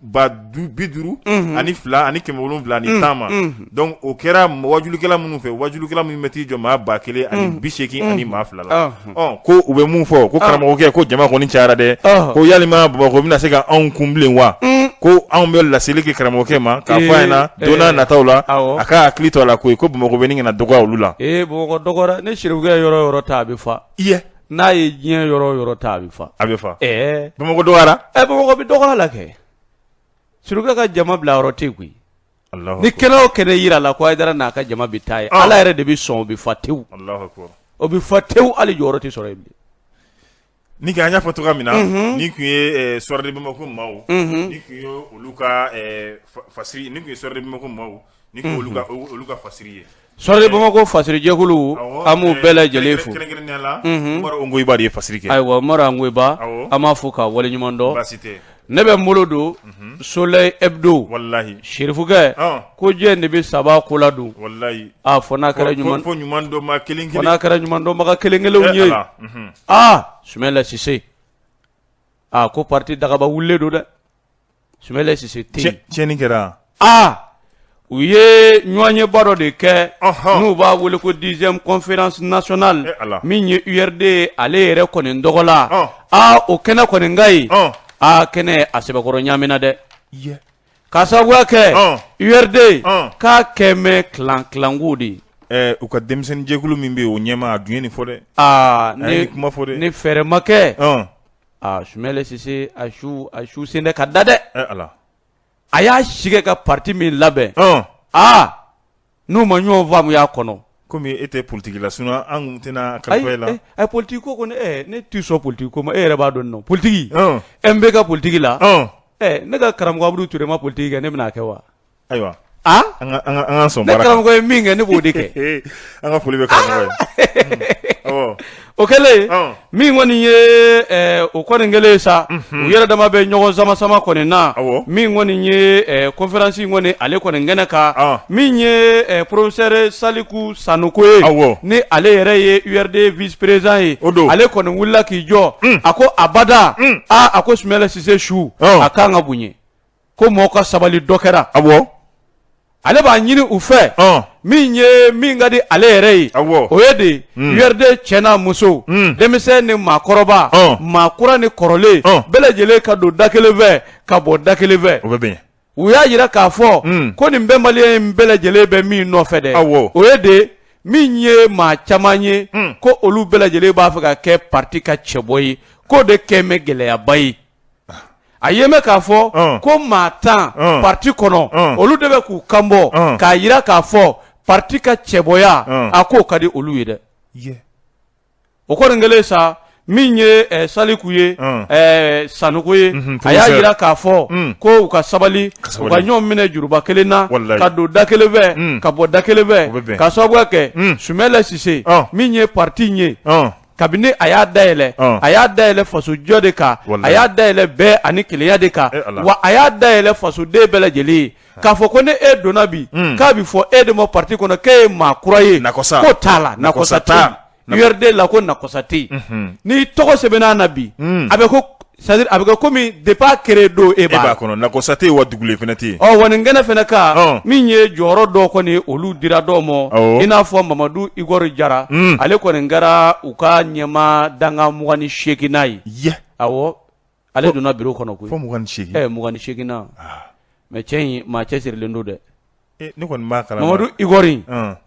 ba du bi duuru ani fila ani kɛmɛ wolon wolonwula ani tan ma donc o kɛra wajulikɛla minnu fɛ wajulikɛla minnu bɛ t'i jɔ maa ba kelen ani bi seegin ani maa fila la ko u bɛ mun fɔ ko karamɔgɔkɛ ko jama kɔni cayara dɛ ko yalima bamakɔ bɛna se ka anw kun bilen wa ko anw bɛ laseli kɛ karamɔgɔkɛ ma k'a fɔ a ɲɛna don nataw la a ka hakili to a la koyi ko bamakɔ bɛ ɲini ka na dɔgɔya olu la ni serifukɛ yɔrɔ o yɔrɔ ta a bɛ fa n'a ye diɲɛ yɔrɔ o yɔrɔ ta a bɛ fa a bɛ fa ɛɛ bamakɔ dɔgɔyara ɛ bamakɔ bɛ dɔgɔya la kɛ serifukɛ ka jama bila yɔrɔ tɛ yen koyi Alahu akbar. ni kɛnɛ o kɛnɛ yirala ko Hayidara n'a ka jama bɛ taa yen Ah. ala yɛrɛ de bɛ sɔn o bɛ fa tewu Alahu akbar. o bɛ fa tewu hali jɔyɔrɔ tɛ sɔrɔ yen bilen ni kɛ an y'a fɔ cogoya min na nin tun ye Soir de Bamako maaw nin tun ye olu ka eh, fa- fasiri nin tun ye Soir de Bamako maaw nin tun ye olu ka o- olu ka fasiri ye Soir de Bamako fasiri jɛkulu an b'u bɛɛ lajɛlen fo kɛ ayiwa Umaru Ongoyiba an b'a fɔ ka waleɲuman dɔn ne bɛ n bolo don Soleil Hebdo wallahi serifukɛ ko jɛn de bɛ sabaa kɔ ladon a fo n'a kɛra ɲuman ɲuman kelen n'a kɛra ɲumandɔnbaga kelen kelen ye aa Sumayila Sise aa ko pati dagaba wulilen don dɛ Sise tɛ yen tiɲɛni kɛra aa u ye ɲɔgɔnyeba dɔ de kɛ n'u b'a weele ko dixième conférence nationale min ye URD ale yɛrɛ kɔni tɔgɔ la aa o kɛnɛ kɔni kan ye aa kɛnɛ a sɛbɛkɔrɔ ɲaamina dɛ k'a sababuya kɛ URD k'a kɛ mɛ clan clan ko de ye u ka denmisɛnninjɛkulu min bɛ yen o ɲɛmaa dun ye nin fɔ dɛ aa nin kuma fɔ ni fɛɛrɛ ma kɛ Aa sumɛlɛ sise a su a su se tɛ ka da dɛ a y'a sigi ka parti min labɛn aa n'u ma ɲɔgɔn faamu y'a kɔnɔ kɔmi e tɛ politigi la sinon an tɛna la politigi ko ne tɛ sɔn politigi ko ma e yɛrɛ b'a dɔn nɔ politigi MB ka politigi la ne ka karamɔgɔ Abudu Ture ma politigi kɛ ne bɛn'a kɛ wa Ayiwa ne karamɔgɔ ye min kɛ ne b'o de kɛ an ka foli bɛ karamɔgɔ ye o kɛlen min kɔni ye o kɔni kɛlen sa u yɛrɛ dama bɛ ɲɔgɔn sama sama kɔni na min kɔni ye conférence kɔni ale kɔni kɛnɛ kan min ye professeur saliku sanuko ye ni ale yɛrɛ ye URD vice-président ye o don ale kɔni wulila k'i jɔ a ko abada aaa a ko sumɛlɛ sise su a ka kan ka bonya ko mɔgɔ ka sabali dɔ kɛra a ale b'a ɲini u fɛ min ye min ka di ale yɛrɛ ye o ye de hmm. URD cɛ n'a muso hmm. denmisɛn ni maakɔrɔba maa kura ni kɔrɔlen bɛɛ lajɛlen ka don da kelen fɛ ka bɔ da kelen fɛ u y'a jira k'a fɔ hmm. ko nin bɛnbaliya in bɛɛ lajɛlen bɛ min nɔfɛ dɛ o ye de min ye maa caman ye ko olu bɛɛ lajɛlen b'a fɛ ka kɛ parti ka cɛbɔ ye k'o de kɛ mɛ gɛlɛyaba ye a y'a mɛn k'a fɔ Ɔn. ko maa tan Ɔn. parti kɔnɔ Ɔn. olu de bɛ k'u kanbɔ Ɔn. k'a jira k'a fɔ parti ka cɛbɔya Ɔn. a ko ka di olu ye dɛ Ye. o kɔni kɛlen sa min ye eh, saliku ye Ɔn. eh, sanuko ye Mhm, a y'a professeur. jira k'a fɔ Mm. ko u ka sabali Ka sabali. u ka ɲɔgɔn minɛ juruba kelen na Walayi. ka don da kelen fɛ Mm. ka bɔ da kelen U bɛ fɛ bɛn. k'a sababuya kɛ Mm. sumɛlɛ sise Ɔn. min ye parti in ye Ɔn. kabini a y'a dayɛlɛ Ɔn. a y'a dayɛlɛ fasojɔ de kan Walahi. a y'a dayɛlɛ bɛn ani kelenya de kan Eh, Ala. wa a y'a dayɛlɛ fasoden bɛɛ lajɛlen ye k'a fɔ ko ni e donna bi k'a bi fɔ e de ma parti kɔnɔ k'e ye maa kura ye Nakɔsa. ko t'a la Nakɔsa nakɔsa t'a. tɛ URD la ko nakɔsa tɛ yen n'i tɔgɔ sɛbɛnna na bi a bɛ ko C'est-à-dire a bɛ kɛ kɔmi depuis a créé don e b'a kɔnɔ nakɔsa tɛ wa dugulen fana tɛ ɔ wa nin kɛnɛ fana kan min ye jɔyɔrɔ dɔw kɔni olu dira dɔw ma i n'a fɔ mamadu Igor jara ale kɔni kɛra u ka ɲɛmaa dankan mugan ni seginnan ye a ale donna biro kɔnɔ ko fɔ mugan ni segin mugan ni seginnan mais cɛ in maa cɛ sirilen don dɛ Ne kɔni b'a kalama Mamadu Igor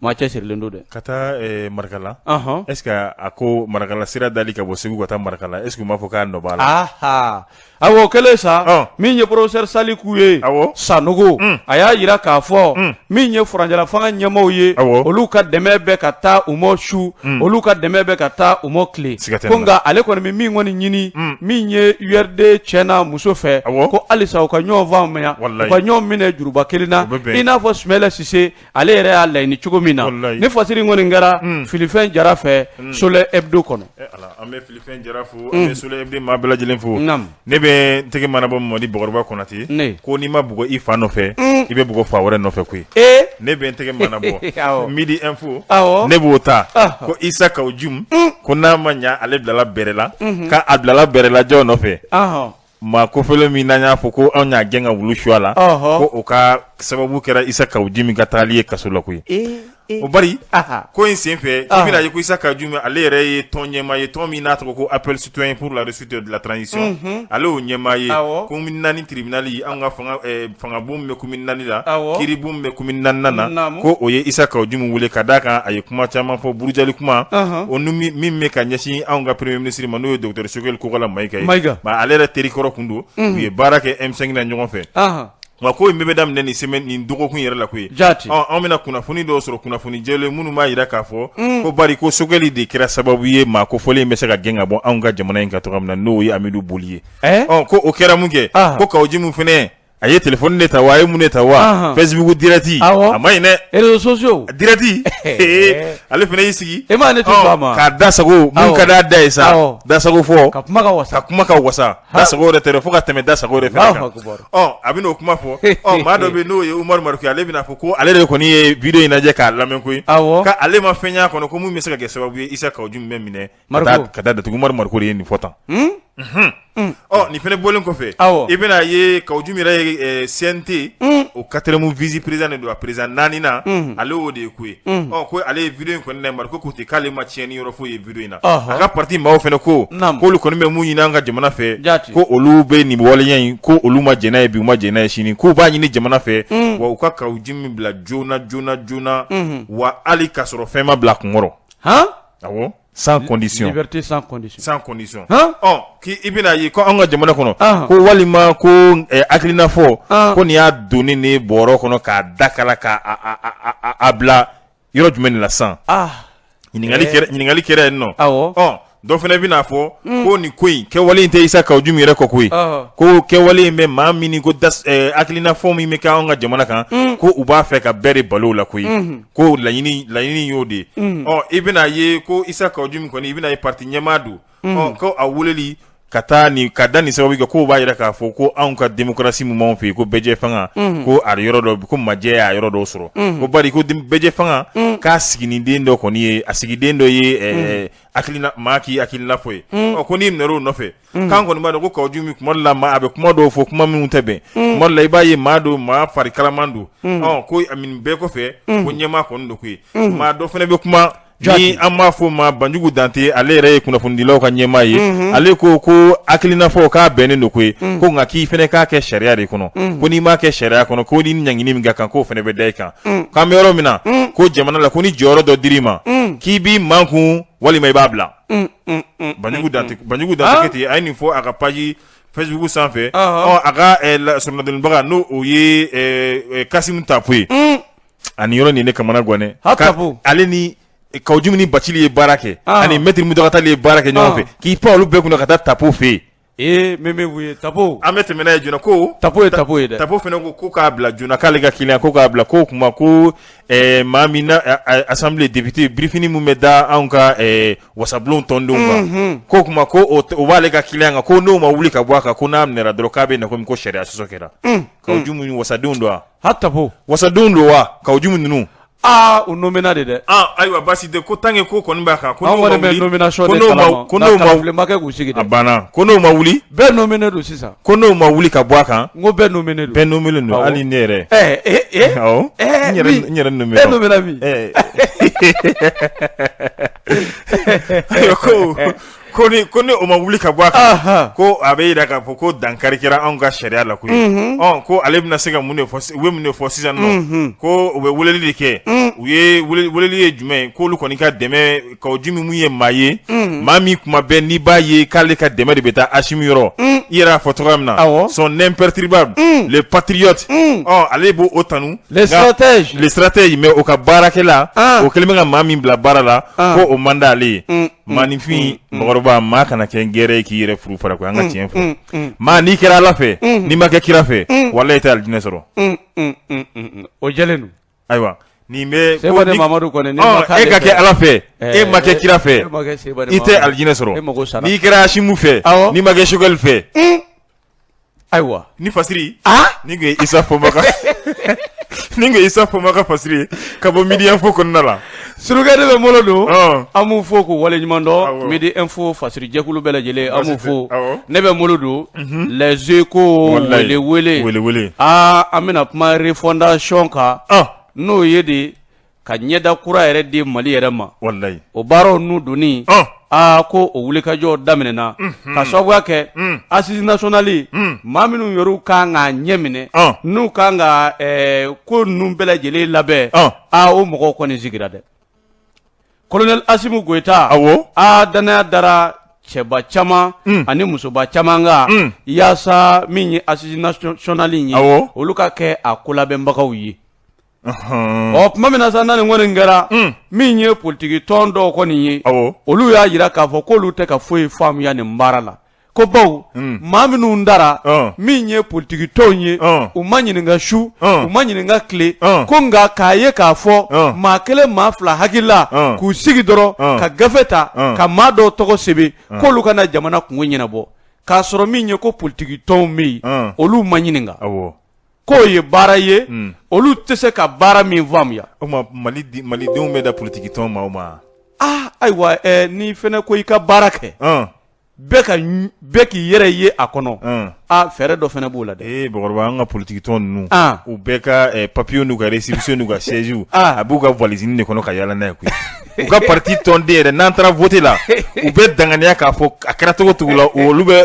maa cɛsirilen don dɛ ka taa marakala est-ce que a ko marakala sira dali ka bɔ segu ka taa marakala est-ce que u m'a fɔ k'a nɔ b'a la a o kɛlen sa min ye professeur Saliku ye Sanogo a y'a jira k'a fɔ min ye furancɛla fanga ɲɛmaaw ye olu ka dɛmɛ bɛ ka taa u ma su olu ka dɛmɛ bɛ ka taa u ma tile ko nka ale kɔni bɛ min kɔni ɲini min ye URD cɛ n'a muso fɛ ko halisa u ka ɲɔgɔn faamuya u ka ɲɔgɔn minɛ juruba kelen na i n'a fɔ Sumayila Sise ale yɛrɛ y'a laɲini cogo min na ni fasiri kɔni kɛra filifɛn jara fɛ Soleil Hebdo kɔnɔ an bɛ Filifɛn Jara fo an bɛ Soleil Hebdo maa bɛɛ lajɛlen fo ne bɛ n tɛgɛ mana bɔ Mamadi Bakɔrɔba Konate ko n'i ma bugɔ i fa nɔfɛ i bɛ bugɔ fa wɛrɛ nɔfɛ koyi ne bɛ n tɛgɛ mana bɔ Midi Info ne b'o ta ko Isa Kawu Jimu ko n'a ma ɲɛ ale bilala bɛrɛ la k' a bilala bɛrɛ la jɔn nɔfɛ maa kofɔlen min n'an y'a fɔ ko anw y'a gɛn ka wulu su a la ko o ka sababu kɛra Isa Kawu Jimu ka taali ye kaso la koyi o bari ko in senfɛ i y'a ye ko Isa Kawu Jimu ale yɛrɛ ye tɔn ɲɛmaa ye tɔn min n'a tɔgɔ ko Appel Citoyen pour la réussite de la transition ale y'o ɲɛmaa ye commune naani tribunal an ka fanga bon min bɛ commune naani la kiiri bon min bɛ commune naani na ko o ye Isa Kawu Jimu weele ka d'a kan a ye kuma caman fɔ burujali kuma o min bɛ ka ɲɛsin anw ka premier ministre ma n'o ye docteur Sogɛli Kokala Mayiga ye ale yɛrɛ terikɔrɔ tun don u ye baara kɛ M5 na ɲɔgɔn fɛ Nka ko in bɛɛ bɛ daminɛ nin semaine nin dɔgɔkun yɛrɛ la koyi, jaati, ɔ an bɛna kunnafoni dɔw sɔrɔ kunnafoni jɛlen minnu b'a jira k'a fɔ, un, ko bari ko Sogɛli de kɛra sababu ye maa kofɔlen in bɛ se ka gɛn ka bɔ anw ka jamana in kan cogoya min na n'o ye Amidu Boli ye, ɛɛ, ɔ ko o kɛra mun kɛ, ɔnhɔn, ko Kawo Jimu fana a ye telephone de ta wa a ye mun de ta wa, ɔnhɔn, Facebook direct awɔ, a ma ɲi dɛ, réseaux sociaux direct ee ale fana y'i sigi, e m'a ye ne tɛ sɔn a ma, k'a da sago, awɔ, mun ka d'a da ye sa, awɔ, dasagofɔ, ka kuma ka wasa, ka kuma ka wasa Da sago yɛrɛ tɛ fo ka tɛmɛ da sago yɛrɛ fana kan a bɛ o kuma fɔ ɔ maa dɔ bɛ n'o ye Umaru Mariko ye ale bɛna'a fɔ ko ale de kɔni ye video in lajɛ k'a lamɛn koyi k' ale ma fɛn y'a kɔnɔ ko min bɛ se ka kɛ sababu ye Isa Kawu Jimu bɛ minɛ k'a datugu Umaru Mariko de ye nin fɔ tan ɔ nin fana bɔlen kɔfɛ i bɛna a ye Kawu Jimu yɛrɛ CNT o quatrième vice-président de don a président naaninan ale o de ye ko ye ɔ ko ale ye video in kɔni Mariko ko ten k'ale ma tiɲɛni yɔrɔ foyi ye in na a ka pati maaw fana ko k'olu kɔni bɛ mun ɲini an ka jamana fɛ ko olu bɛ nin waleya in ko olu ma jɛn n'a ye bi u ma jɛn n'a ye sini k'u b'a ɲini jamana fɛ mm. wa u ka Kawu Jimu bila joona joona joona mm-hmm. wa hali k'a sɔrɔ fɛn ma bila a kunkɔrɔ awɔ sans condition liberté sans condition sans condition ɔ k'i i bɛna ye ko an ka jamana kɔnɔ ah. ko walima ko eh, hakilina fɔ ah. ko nin y'a don nin bɔrɔ kɔnɔ k'a da kala k'a a a a a bila yɔrɔ jumɛn de la sisan ah, ɲininkali eh. ɲininkali kɛra yen nɔ ɔ dɔ fana bɛn'a fɔ mm. ko nin ko in kɛwale in tɛ isa kaw jumi yɛrɛ kɔ koyi ko kɛwale in bɛ maa min ko eh, hakilinafɔ min bɛ kɛ anw ka jamana kan mm. ko u b'a fɛ ka bɛɛ de balo la koyi mm-hmm. ko laɲini laɲini y'o de ye mm. ɔ i bɛna ye ko isa kaw jumi kɔni i bɛna ye parti ɲɛmaa don ko a wulili ka taa nin ka da nin sababu kɛ k'o b'a yira k'a fɔ ko anw ka demokarasi min b'an fɛ yen ko bɛɛjɛ fanga ko a yɔrɔ dɔ ko majɛ y'a yɔrɔ dɔw sɔrɔ ko bari ko bɛɛjɛ fanga k'a sigi den dɔ kɔni ye a sigi den dɔ ye hakilina maa k'i hakilina fɔ ye ɔ ko n'i minɛn'o nɔfɛ k'an kɔni b'a dɔn ko kaw jumi kuma la a bɛ kuma dɔw fɔ kuma minnu tɛ bɛn kuma la i b'a ye maa don maa fari kalaman don ko bɛɛ kɔfɛ ko ɲɛmaa kɔni don koyi maa dɔ fana bɛ kuma Ni an b'a fɔ o ma banjugu dante ale yɛrɛ ye kunnafonidilaw ka ɲɛmaa ye ale ko ko hakilinafɔ k'a bɛnnen don koyi ko nka k'i fana k'a kɛ sariya de kɔnɔ ko n'i m'a kɛ sariya kɔnɔ ko ni ɲangini min ka kan k'o fana bɛ da i kan k'an bɛ yɔrɔ min na ko jamana la ko ni jɔyɔrɔ dɔ dir'i ma k'i b'i makun walima i b'a bila banjugu dante banjugu dante kuyate a ye nin fɔ a ka page facebook sanfɛ ɔ a ka soronadonbaga n'o o ye kasimu tapo ye ani yɔrɔ nin ne kamanaganna ale ni kaw jumi ni bacili ye baara kɛ ah. ani mɛtiri muntaga tali ye baara kɛ ɲɔgɔn ah. fɛ k'i pan olu bɛɛ kunna ka taa tapo fɛ yen ee min bɛ tapo an bɛ tɛmɛɛna ye joona ko tapo ye tapo ye dɛ tapo fana ko ko k'a bila joona k'ale ka client ko k'a bila ko kuma ko eh, maa min na asanbile depite birifini min bɛ da anw ka eh, wasabulon tɔndenw kan mhm. ko kuma ko o b'ale ka client kan ko n'o ma wuli ka bɔ a kan ko n'a minɛ dɔrɔn k'a bɛ na ko sariya sɔsɔ kɛra mm. kaw jumi ninnu wasadenw don wa ha tapo wasadenw don wa kaw jumi ninnu aa u nomena de dɛ ah, ayiwa basi tɛ ko tanga ko kɔni b'a kan ko n'o ma wuli ko n'o ma ko n'o ma wuli k'u sigi dɛ a banna ko n'o ma wuli bɛɛ nomine don sisan ko n'o ma wuli ka bɔ a kan n ko bɛɛ nomine don bɛɛ nomine don hali ne yɛrɛ ɛɛ ee ee awɔ n yɛrɛ n yɛrɛ nomine e nomena min ɛɛ ayiwa ko Ko ni ko ni o ma wuli ka bɔ a kan, anhan, ko a bɛ jira k'a fɔ ko dankari kɛra anw ka sariya la koyi, unhun, ɔ ko ale bɛna se ka mun de fɔ si- u bɛ mun de fɔ sisan nɔ, unhun, ko u bɛ weleli de kɛ, un, u ye wele- weleli ye jumɛn ye k'olu kɔni ka dɛmɛ kaw jumi min ye maa ye, un, maa min kuma bɛɛ n'i b'a ye k'ale ka dɛmɛ de bɛ taa Asimi yɔrɔ, un, i yɛrɛ y'a fɔ cogoya min na, Awɔ. son imperturbable, un, le patriote, un, ɔ ale b'o o tanu, les nka- stratèges, le stratège mais o ka baarakɛla, an, o kɛlen bɛ ka maa min bila baara la, an, ko o man d'ale ye. un, Maaninfin mɔgɔkɔrɔba maa kana kɛ n gɛrɛ ye k'i yɛrɛ furu fara koyi an ka tiɲɛ fɔ maa n'i kɛra ala fɛ n'i ma kɛ kira fɛ walayi i tɛ alijinɛ sɔrɔ o jɛlen don ayiwa nin bɛ e ka kɛ ala fɛ e ma kɛ kira fɛ i tɛ alijinɛ sɔrɔ n'i kɛra asimi fɛ n'i ma kɛ sogɛli fɛ Ayiwa ni fasiri ni isa fomaka ni ko isa fɔma ka fasiri ka bɔ Midi Info kɔnɔna la Surukɛ de bɛ bolo don an b'u fo ko wale ɲuman dɔn Midi Info fasiri jɛkulu bɛɛ lajɛlen an b'u fo ne bɛ bolo don Les Échos wele aa an bɛna kuma refondation kan n'o ye de ka ɲɛda kura yɛrɛ di mali yɛrɛ ma walayi o baaraw n'u doni aa ko o wulikajɔ daminɛna ka sababuya kɛ asisi nasonali maa minnu yɛrɛ kan ka ɲɛminɛ n'u kan ka ko ninnu bɛɛ lajɛlen labɛn aa o mɔgɔw kɔni sigira dɛ kolonɛli Asimu Goyita aa dannaya dara cɛba caman ani musoba caman kan yaasa min ye asisi nasonali ye olu ka kɛ a ko labɛnbagaw ye ɔ tuma min na sa nin kɔni kɛra mm. min ye politigi tɔn dɔw kɔni ye olu y'a jira k'a fɔ k'olu tɛ ka foyi faamuya nin baara la ko bawo mm. maa minnu dara min ye politigi tɔnw ye u ma ɲininka su u ma ɲininka tile ko nka k'a ye k'a fɔ maa kelen maa fila hakilila k'u sigi dɔrɔn ka gafe ta ka maa dɔw tɔgɔ sɛbɛn k'olu ka na jamana kunko ɲɛnabɔ k'a sɔrɔ min ye ko politigi tɔnw bɛ yen olu ma ɲininka k'o ye baara ye hmm. olu tɛ se ka baara min faamuya o tuma mali malidenw bɛ da politiki tɔn ma o ma ah ayiwa eh, n'i fɛnɛ ko i ka baara kɛ ah. bɛɛ ka bɛɛ k'i yɛrɛ ye a kɔnɔ ah. ah fɛɛrɛ dɔ fɛnɛ b'o la dɛ ee eh, bakɔrɔba an ka politiki tɔn ninnu ah. u bɛɛ ka eh, papiyew n'u ka récépissé n'u ka siège ah. a b'u ka valisini de kɔnɔ ka yaala n'a ye koyi u ka pati tɔnden yɛrɛ n'an taara vote la u bɛ danganiya k'a fɔ a kɛra cogo cogo la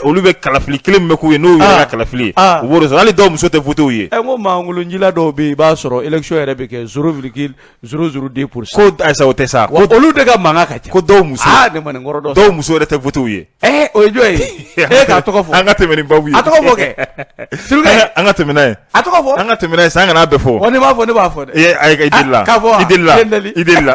olu bɛ kalafili kelen min bɛ k'u ye n'u yɛrɛ ka kalafili u b'o sɔrɔ hali dɔw muso tɛ voter u ye ɛ ko makolonjila dɔw bɛ yen i b'a sɔrɔ élection yɛrɛ bɛ kɛ zéro virgule zéro zéro deux ko a Isa o tɛ sa olu de ka mankan ka ca ko dɔw muso dɔw muso yɛrɛ tɛ voter u ye Ɛɛ o ye jɔn ye e k'a tɔgɔ fɔ an ka tɛmɛ ni babu ye a tɔgɔ fɔ kɛ an ka tɛmɛ n'a ye a tɔgɔ fɔ an ka tɛmɛ n'a ye sa an kana bɛɛ fɔ wa ne b'a fɔ ne b'a fɔ dɛ a i delila k'a fɔ i delila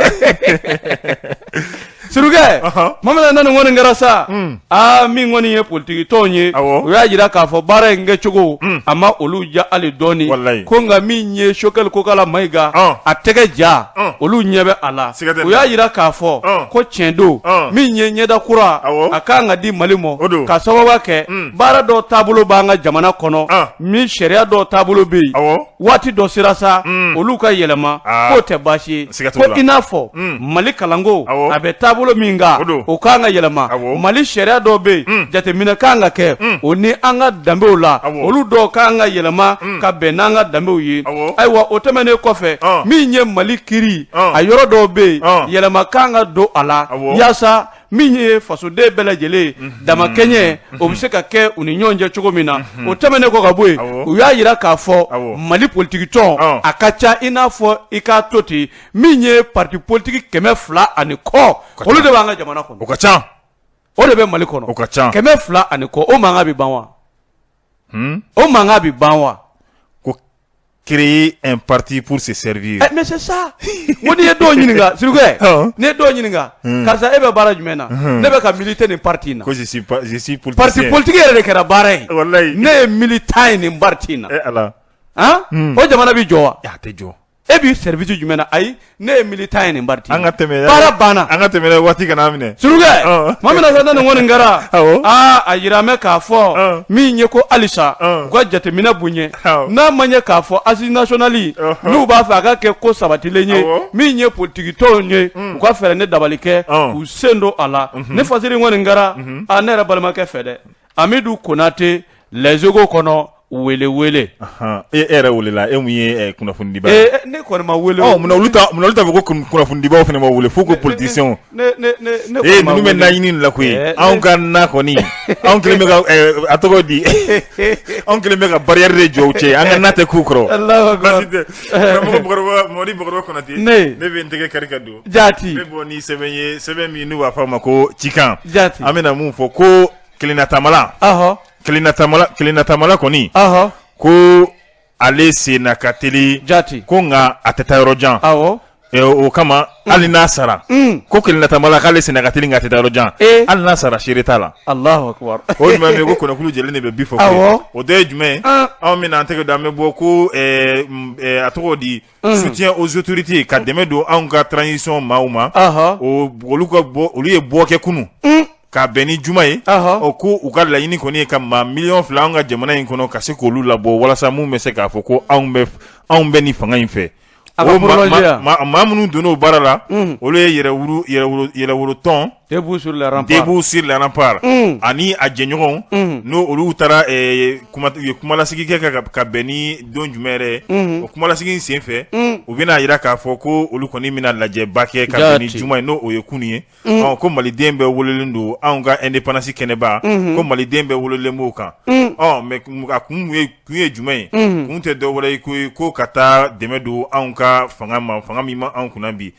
surukɛ tuma min na nin kɔni kɛra sa hmm. aa min kɔni ye politigi tɔnw ye u y'a jira k'a fɔ baara in kɛcogo hmm. a ma olu ja hali dɔɔni ko nka min ye Sogɛli Kokala Mayiga a tɛgɛ ja olu ɲɛ bɛ a la u y'a jira k'a fɔ ko tiɲɛ don min ye ɲɛda kura a ka kan ka di mali ma ka sababu kɛ mm. baara dɔ taabolo b'an ka jamana kɔnɔ min sariya dɔ taabolo bɛ yen waati dɔ sera sa mm. olu ka yɛlɛma k'o tɛ baasi ye ko i n'a fɔ mm. mali kalanko a bɛ taabolo min kan o ka kan ka yɛlɛma mali sariya dɔw bɛ yen jateminɛ ka kan ka kɛ o ni an ka danbew la olu dɔw ka kan ka yɛlɛma ka bɛn n'an ka danbew ye ayiwa o tɛmɛnen kɔfɛ min ye mali kiri a yɔrɔ dɔw bɛ yen yɛlɛma kan ka don a la yaasa min ye fasoden bɛɛ lajɛlen mhm. damakɛɲɛ mhm. o bɛ se ka kɛ u ni ɲɔgɔn cɛ cogo min na mhm. o tɛmɛnen kɔ ka bɔ yen u y'a jira k'a fɔ mali politikitɔn ah. a ka ca i n'a fɔ i k'a to ten min ye parti politiki kɛmɛ fila ani kɔ olu de b'an ka jamana kɔnɔ o ka ca o de bɛ mali kɔnɔ o ka ca kɛmɛ fila ani kɔ o mankan bɛ ban wa o mankan bɛ ban wa ko créer un parti pour se servir mais c'est ça ko n'i ye dɔw ɲininka surukɛ n'i ye dɔw ɲininka karisa e bɛ baara jumɛn na ne bɛ ka militer nin parti in na parti politique yɛrɛ de kɛra baara ye ne ye militant ye nin parti in na o jamana bɛ jɔ wa a tɛ jɔ e b'i service jumɛn na ayi ne ye militant ye nin parti an ka tɛmɛ baara banna an ka tɛmɛ waati kana minɛ surukɛ tuma min na sa nin kɔni kɛra aa a yira mɛ k'a fɔ min ye ko halisa u ka jateminɛ bonya n'a ma ɲɛ k'a fɔ assise nationale n'u b'a fɛ a ka kɛ ko sabatilen ye min ye politiki tɔnw ye u ka fɛɛrɛ ni dabali kɛ k'u sen don a la ne fasiri kɔni kɛra a ne yɛrɛ balimakɛ fɛ dɛ Amidu Konatɛ Les Échos kɔnɔ wele wele e yɛrɛ welela e mun ye kunnafonidiba ne ko kunnafonidibaw fana ma wele fo ko politiciens ninnu bɛ naɲini la koyi anw ka na kɔni anw kelen bɛ ka a tɔgɔ di anw kelen bɛ ka barrière de jɔ u cɛ an ka na tɛ k'u kɔrɔ Mɔdi ne bɛ n tɛgɛ kari don Jaati ne bɔ ni sɛbɛn ye sɛbɛn min n'u b'a fɔ a ma ko cikan jaati an bɛna mun fɔ ko kelenna tamala kelenna tamala kelenna tamala kɔni ko ale sen na ka teli jaati ko nka a tɛ taa yɔrɔ jan aw o kama mm. hali n'a sara mm. ko kelenna tamala k'ale sen na ka teli nka a tɛ taa yɔrɔ jan eh. hali n'a sara seere t'a la alahu akubar o jumɛn bɛ ko kɔnɔkulu jɛlen de bɛ bii fɔ o dɔ ye jumɛn ah. anw bɛna an tɛgɛ don an bɛ bɔ ko eh, mm, eh, a tɔgɔ di soutien aux autorités ka dɛmɛ don anw ka transition maaw ma olu ka bɔ olu ye bɔ kɛ kunun ka bɛn ni juma ye o ko u ka laɲini kɔni ye ka maa miliyɔn fila an ka jamana in kɔnɔ ka se k'olu labɔ walasa min bɛ se k'a fɔ ko anw bɛ ni fanga in fɛ maa minnu donna o baara la olu ye yɛrɛwolo tɔn Debout sur les remparts, Debout sur les remparts unhun, ani a jɛɲɔgɔnw unhun, n'o olu taara eh, kuma u ye kumalasigi kɛ ka, ka, ka bɛn ni don jumɛn yɛrɛ ye unhun, o kumalasigi in sen fɛ unhun, u bɛna jira k'a fɔ ko olu kɔni bɛna lajɛba kɛ ka bɛn ni Jaati. juma ye n'o o ye kunu ye unhun, ɔ ko maliden bɛɛ welelen don anw ka indépendance kɛnɛba unhun, ko maliden bɛɛ welelen b'o kan unhun. ɔ mais kun- a kun ye kun ye jumɛn ye kun tɛ dɔ wɛrɛ ye koyi ko ka taa dɛmɛ don anw ka fanga ma fanga min ma anw kunna bi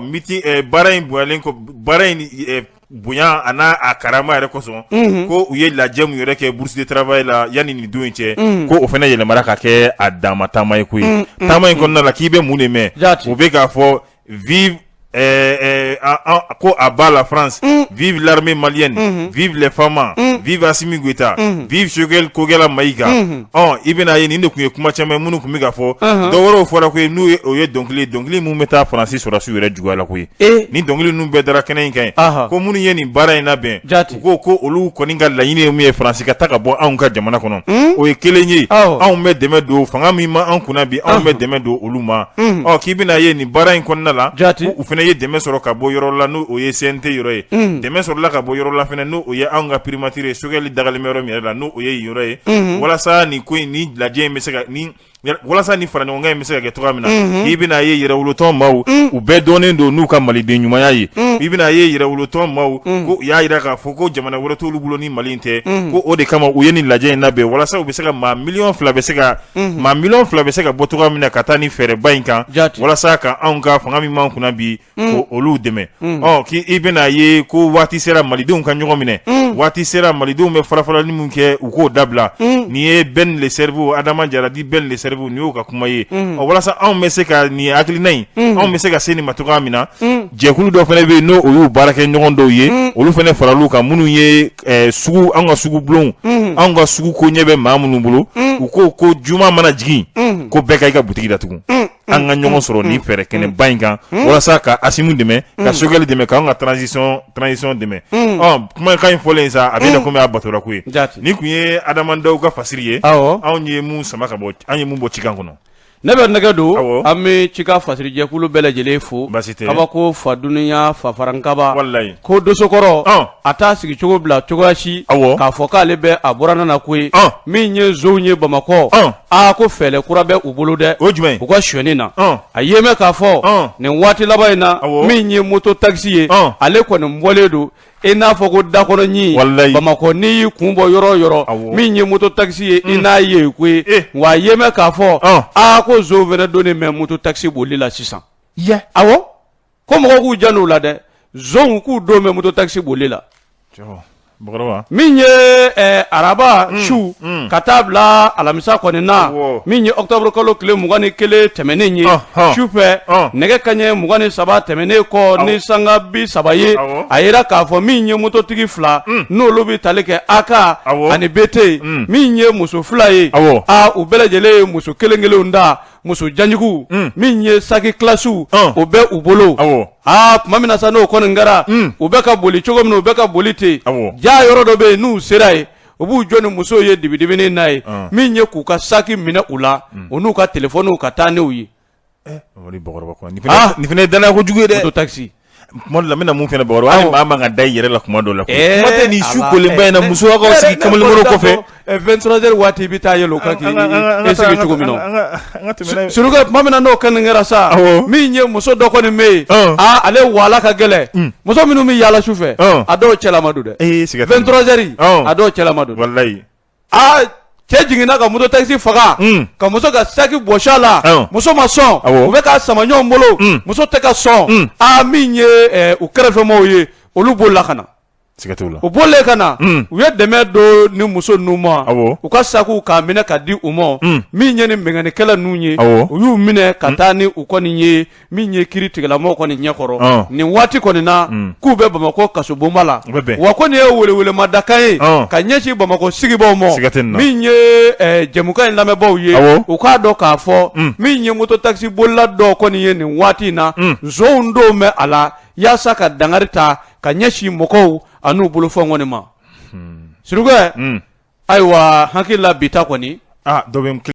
miti baara in bonyalen kɔ baara in bonya a n'a karama yɛrɛ kosɔn ko u ye lajɛ min yɛrɛ kɛ Bourse du travail la yanni nin don in cɛ ko o fana yɛlɛmara ka kɛ a dama taama ye koyi taama in kɔnɔna la k'i bɛ mun de mɛn u bɛ k'a fɔ vive euh, euh, a, a, ko à bas la France mm. vive l'armée malienne mm -hmm. vive les FAMa mm. vive Assimi Goïta mm -hmm. vive Choguel Kokalla Maïga mm -hmm. oh i bɛna ye nin de kun ye kuma caman ye minnu kun bɛ ka fɔ uh -huh. dɔ wɛrɛw fɔra koyi n'o ye dɔnkili ye dɔnkili minnu bɛ taa faransi sɔrɔdasiw yɛrɛ juguya la koyi eh. ni dɔnkili ninnu bɛɛ dara kɛnɛ in kan ye uh -huh. ko minnu ye nin baara in labɛn u ko ko olu kɔni ka laɲini ye mun ye faransi ka taa ka bɔ anw ka jamana kɔnɔ hmm? o ye kelen ye anw bɛ dɛmɛ don fanga min ma an kunna bi anw bɛ dɛmɛ don olu ma hmm. ɔ k'i bɛna ye nin baara in kɔnɔna la u fana ye dɛmɛ sɔrɔ ka bɔ yɔrɔ la n'o o ye CNT yɔrɔ ye hmm. dɛmɛ sɔrɔla ka bɔ yɔrɔ la fana n'o o ye anw ka primature Choguel dagalen bɛ yɔrɔ min yɛrɛ la n'o o ye yen yɔrɔ ye walasa nin ko in ni lajɛ in bɛ se ka ni walasa ni faraɲɔgɔnkan in bɛ se ka kɛ cogoya min na mhm. i bɛna ye yɛrɛwolotɔn maaw mhm. u bɛɛ dɔnnen don n'u ka maliden ɲumanya ye mhm. i bɛna ye yɛrɛwolotɔn maaw ko u y'a jira k'a fɔ ko jamana wɛrɛ t'olu bolo ni mali in tɛ ko o de kama u ye nin lajɛ in labɛn walasa u bɛ se ka maa miliyɔn fila bɛ se ka maa miliyɔn fila bɛ se ka bɔ cogoya min na ka taa ni fɛɛrɛba in kan walasa ka anw ka fanga min m'an kunna bi ko olu dɛmɛ ɔ k' i bɛna ye ko waati sera malidenw ka ɲɔgɔn minɛ waati sera malidenw bɛ farafarali min kɛ u k'o dabila nin ye Ben le Cerveau Adama Jara dit Ben le Cerveau nin y'o ka kuma ye o walasa anw bɛ se ka nin hakilina in anw bɛ se ka se nin ma cogoya min na jɛkulu dɔ fana bɛ yen n'o y'u baarakɛɲɔgɔn dɔw ye olu fana faral'u kan minnu ye an ka sugu bulon an ka sugu koɲɛ bɛ maa minnu bolo u ko ko juma mana jigin ko bɛɛ ka i ka butigi datugu an ka ɲɔgɔn sɔrɔ ni fɛɛrɛ kɛnɛba in kan walasa ka Assimi dɛmɛ ka Choguel dɛmɛ k'an ka transition transition dɛmɛ ɔ kumakan in fɔlen sa a bɛ na komi a batora koyi nin kun ye Adama Daw ka fasiri ye anw ye mun sama ka bɔ an ye mun bɔ cikan kɔnɔ ne bɛ nɛgɛ don an bɛ cikan fasirijɛkulu bɛɛ lajɛlen fo kabako fa dunya fa farankaba ko dosokɔrɔ a t'a sigi cogo bila cogoya si k'a fɔ k'ale bɛ a buranna na koyi min ye nsonw ye bamakɔ aa ko fɛɛrɛ kura bɛ u bolo dɛ o jumɛn u ka sonyani na a ye mɛn k'a fɔ nin waati laban in na min ye moto takisi ye ale kɔni bɔlen don i n'a fɔ ko dakɔnɔɲin bamakɔ n'i y'i kun bɔ yɔrɔ o yɔrɔ min ye moto takisi ye i mm. n'a ye koyi eh. wa a ye mɛn k'a fɔ aa ko nsonw fana donnen bɛ moto takisi boli la sisan awɔ ko mɔgɔw k'u jan u la dɛ zon k'u dɔw bɛ moto takisi boli la min ye eh, araba mm, su mm. ka taa bila alamisa kɔni na min ye octobre kalo tile mugan ni kelen tɛmɛnen ye su fɛ nɛgɛ kanɲɛ mugan ni saba tɛmɛnen kɔ ni sanga bi saba ye a yera k'a fɔ min ye mototigi fila mm. n'olu bɛ tali kɛ AK ani BT min ye muso fila ye a u bɛɛ lajɛlen ye muso kelen kelenw da muso janjugu min ye saki kilasiw o bɛ u bolo aa tuma min na sa n'o kɔni kɛra u bɛ ka boli cogo min u bɛ ka boli ten jaa yɔrɔ dɔ bɛ yen n'u sera yen u b'u jɔ ni musow ye dibidibinin na yen min ye k'u ka saki minɛ u la u n'u ka telefɔniw ka taa n'u ye nin fana ye dannaya kojugu ye dɛ moto ta tuma dɔ la n bɛna mun fana baro hali maa man ka da i yɛrɛ la tuma dɔ la kuma tɛ nin su kolenba in na musolakaw sigi kamalenbolo kɔfɛ 23 heures waati i bɛ taa yɛlɛ o kan k'i sigi cogo min na surukɛ tuma min na n'o kɔni kɛra sa min ye muso dɔ kɔni bɛ yen aa ale wala ka gɛlɛn hmm. muso minnu bɛ yaala su fɛ a dɔw cɛlama don dɛ 23 heures a dɔw cɛlama don walayi aa cɛ jiginna ka moto taxi faga Un. ka muso ka saki bɔsi a la Awɔ. muso ma sɔn Awɔ. u bɛ k'a sama ɲɔgɔn bolo Un. muso tɛ ka sɔn Un. aa min ye eh, u kɛrɛfɛmɔgɔw ye olu bolila ka na siga t'o la u bɔlen ka na Un. u ye dɛmɛ don nin muso ninnu ma Awɔ. u ka sakiw k'a minɛ ka di u ma Un. min ye nin binkannikɛla ninnu ye Awɔ. u y'u minɛ ka taa ni u kɔni ye min ye kiritigɛla mɔgɔw kɔni ɲɛkɔrɔ nin waati kɔni na k'u bɛ bamakɔ kaso bonba la wa ko nin ye welewelema dakan ye ka ɲɛsin bamakɔ sigibaw ma min ye jɛmukan in lamɛnbaw ye u k'a dɔn k'a fɔ min ye moto takisi bolila dɔw kɔni ye nin waati in na zon dɔw bɛ a la yaasa ka dankari ta ka ɲɛsin mɔgɔw ani u bolofɛnw kɔni ma surukɛ ayiwa hakili la bi ta kɔni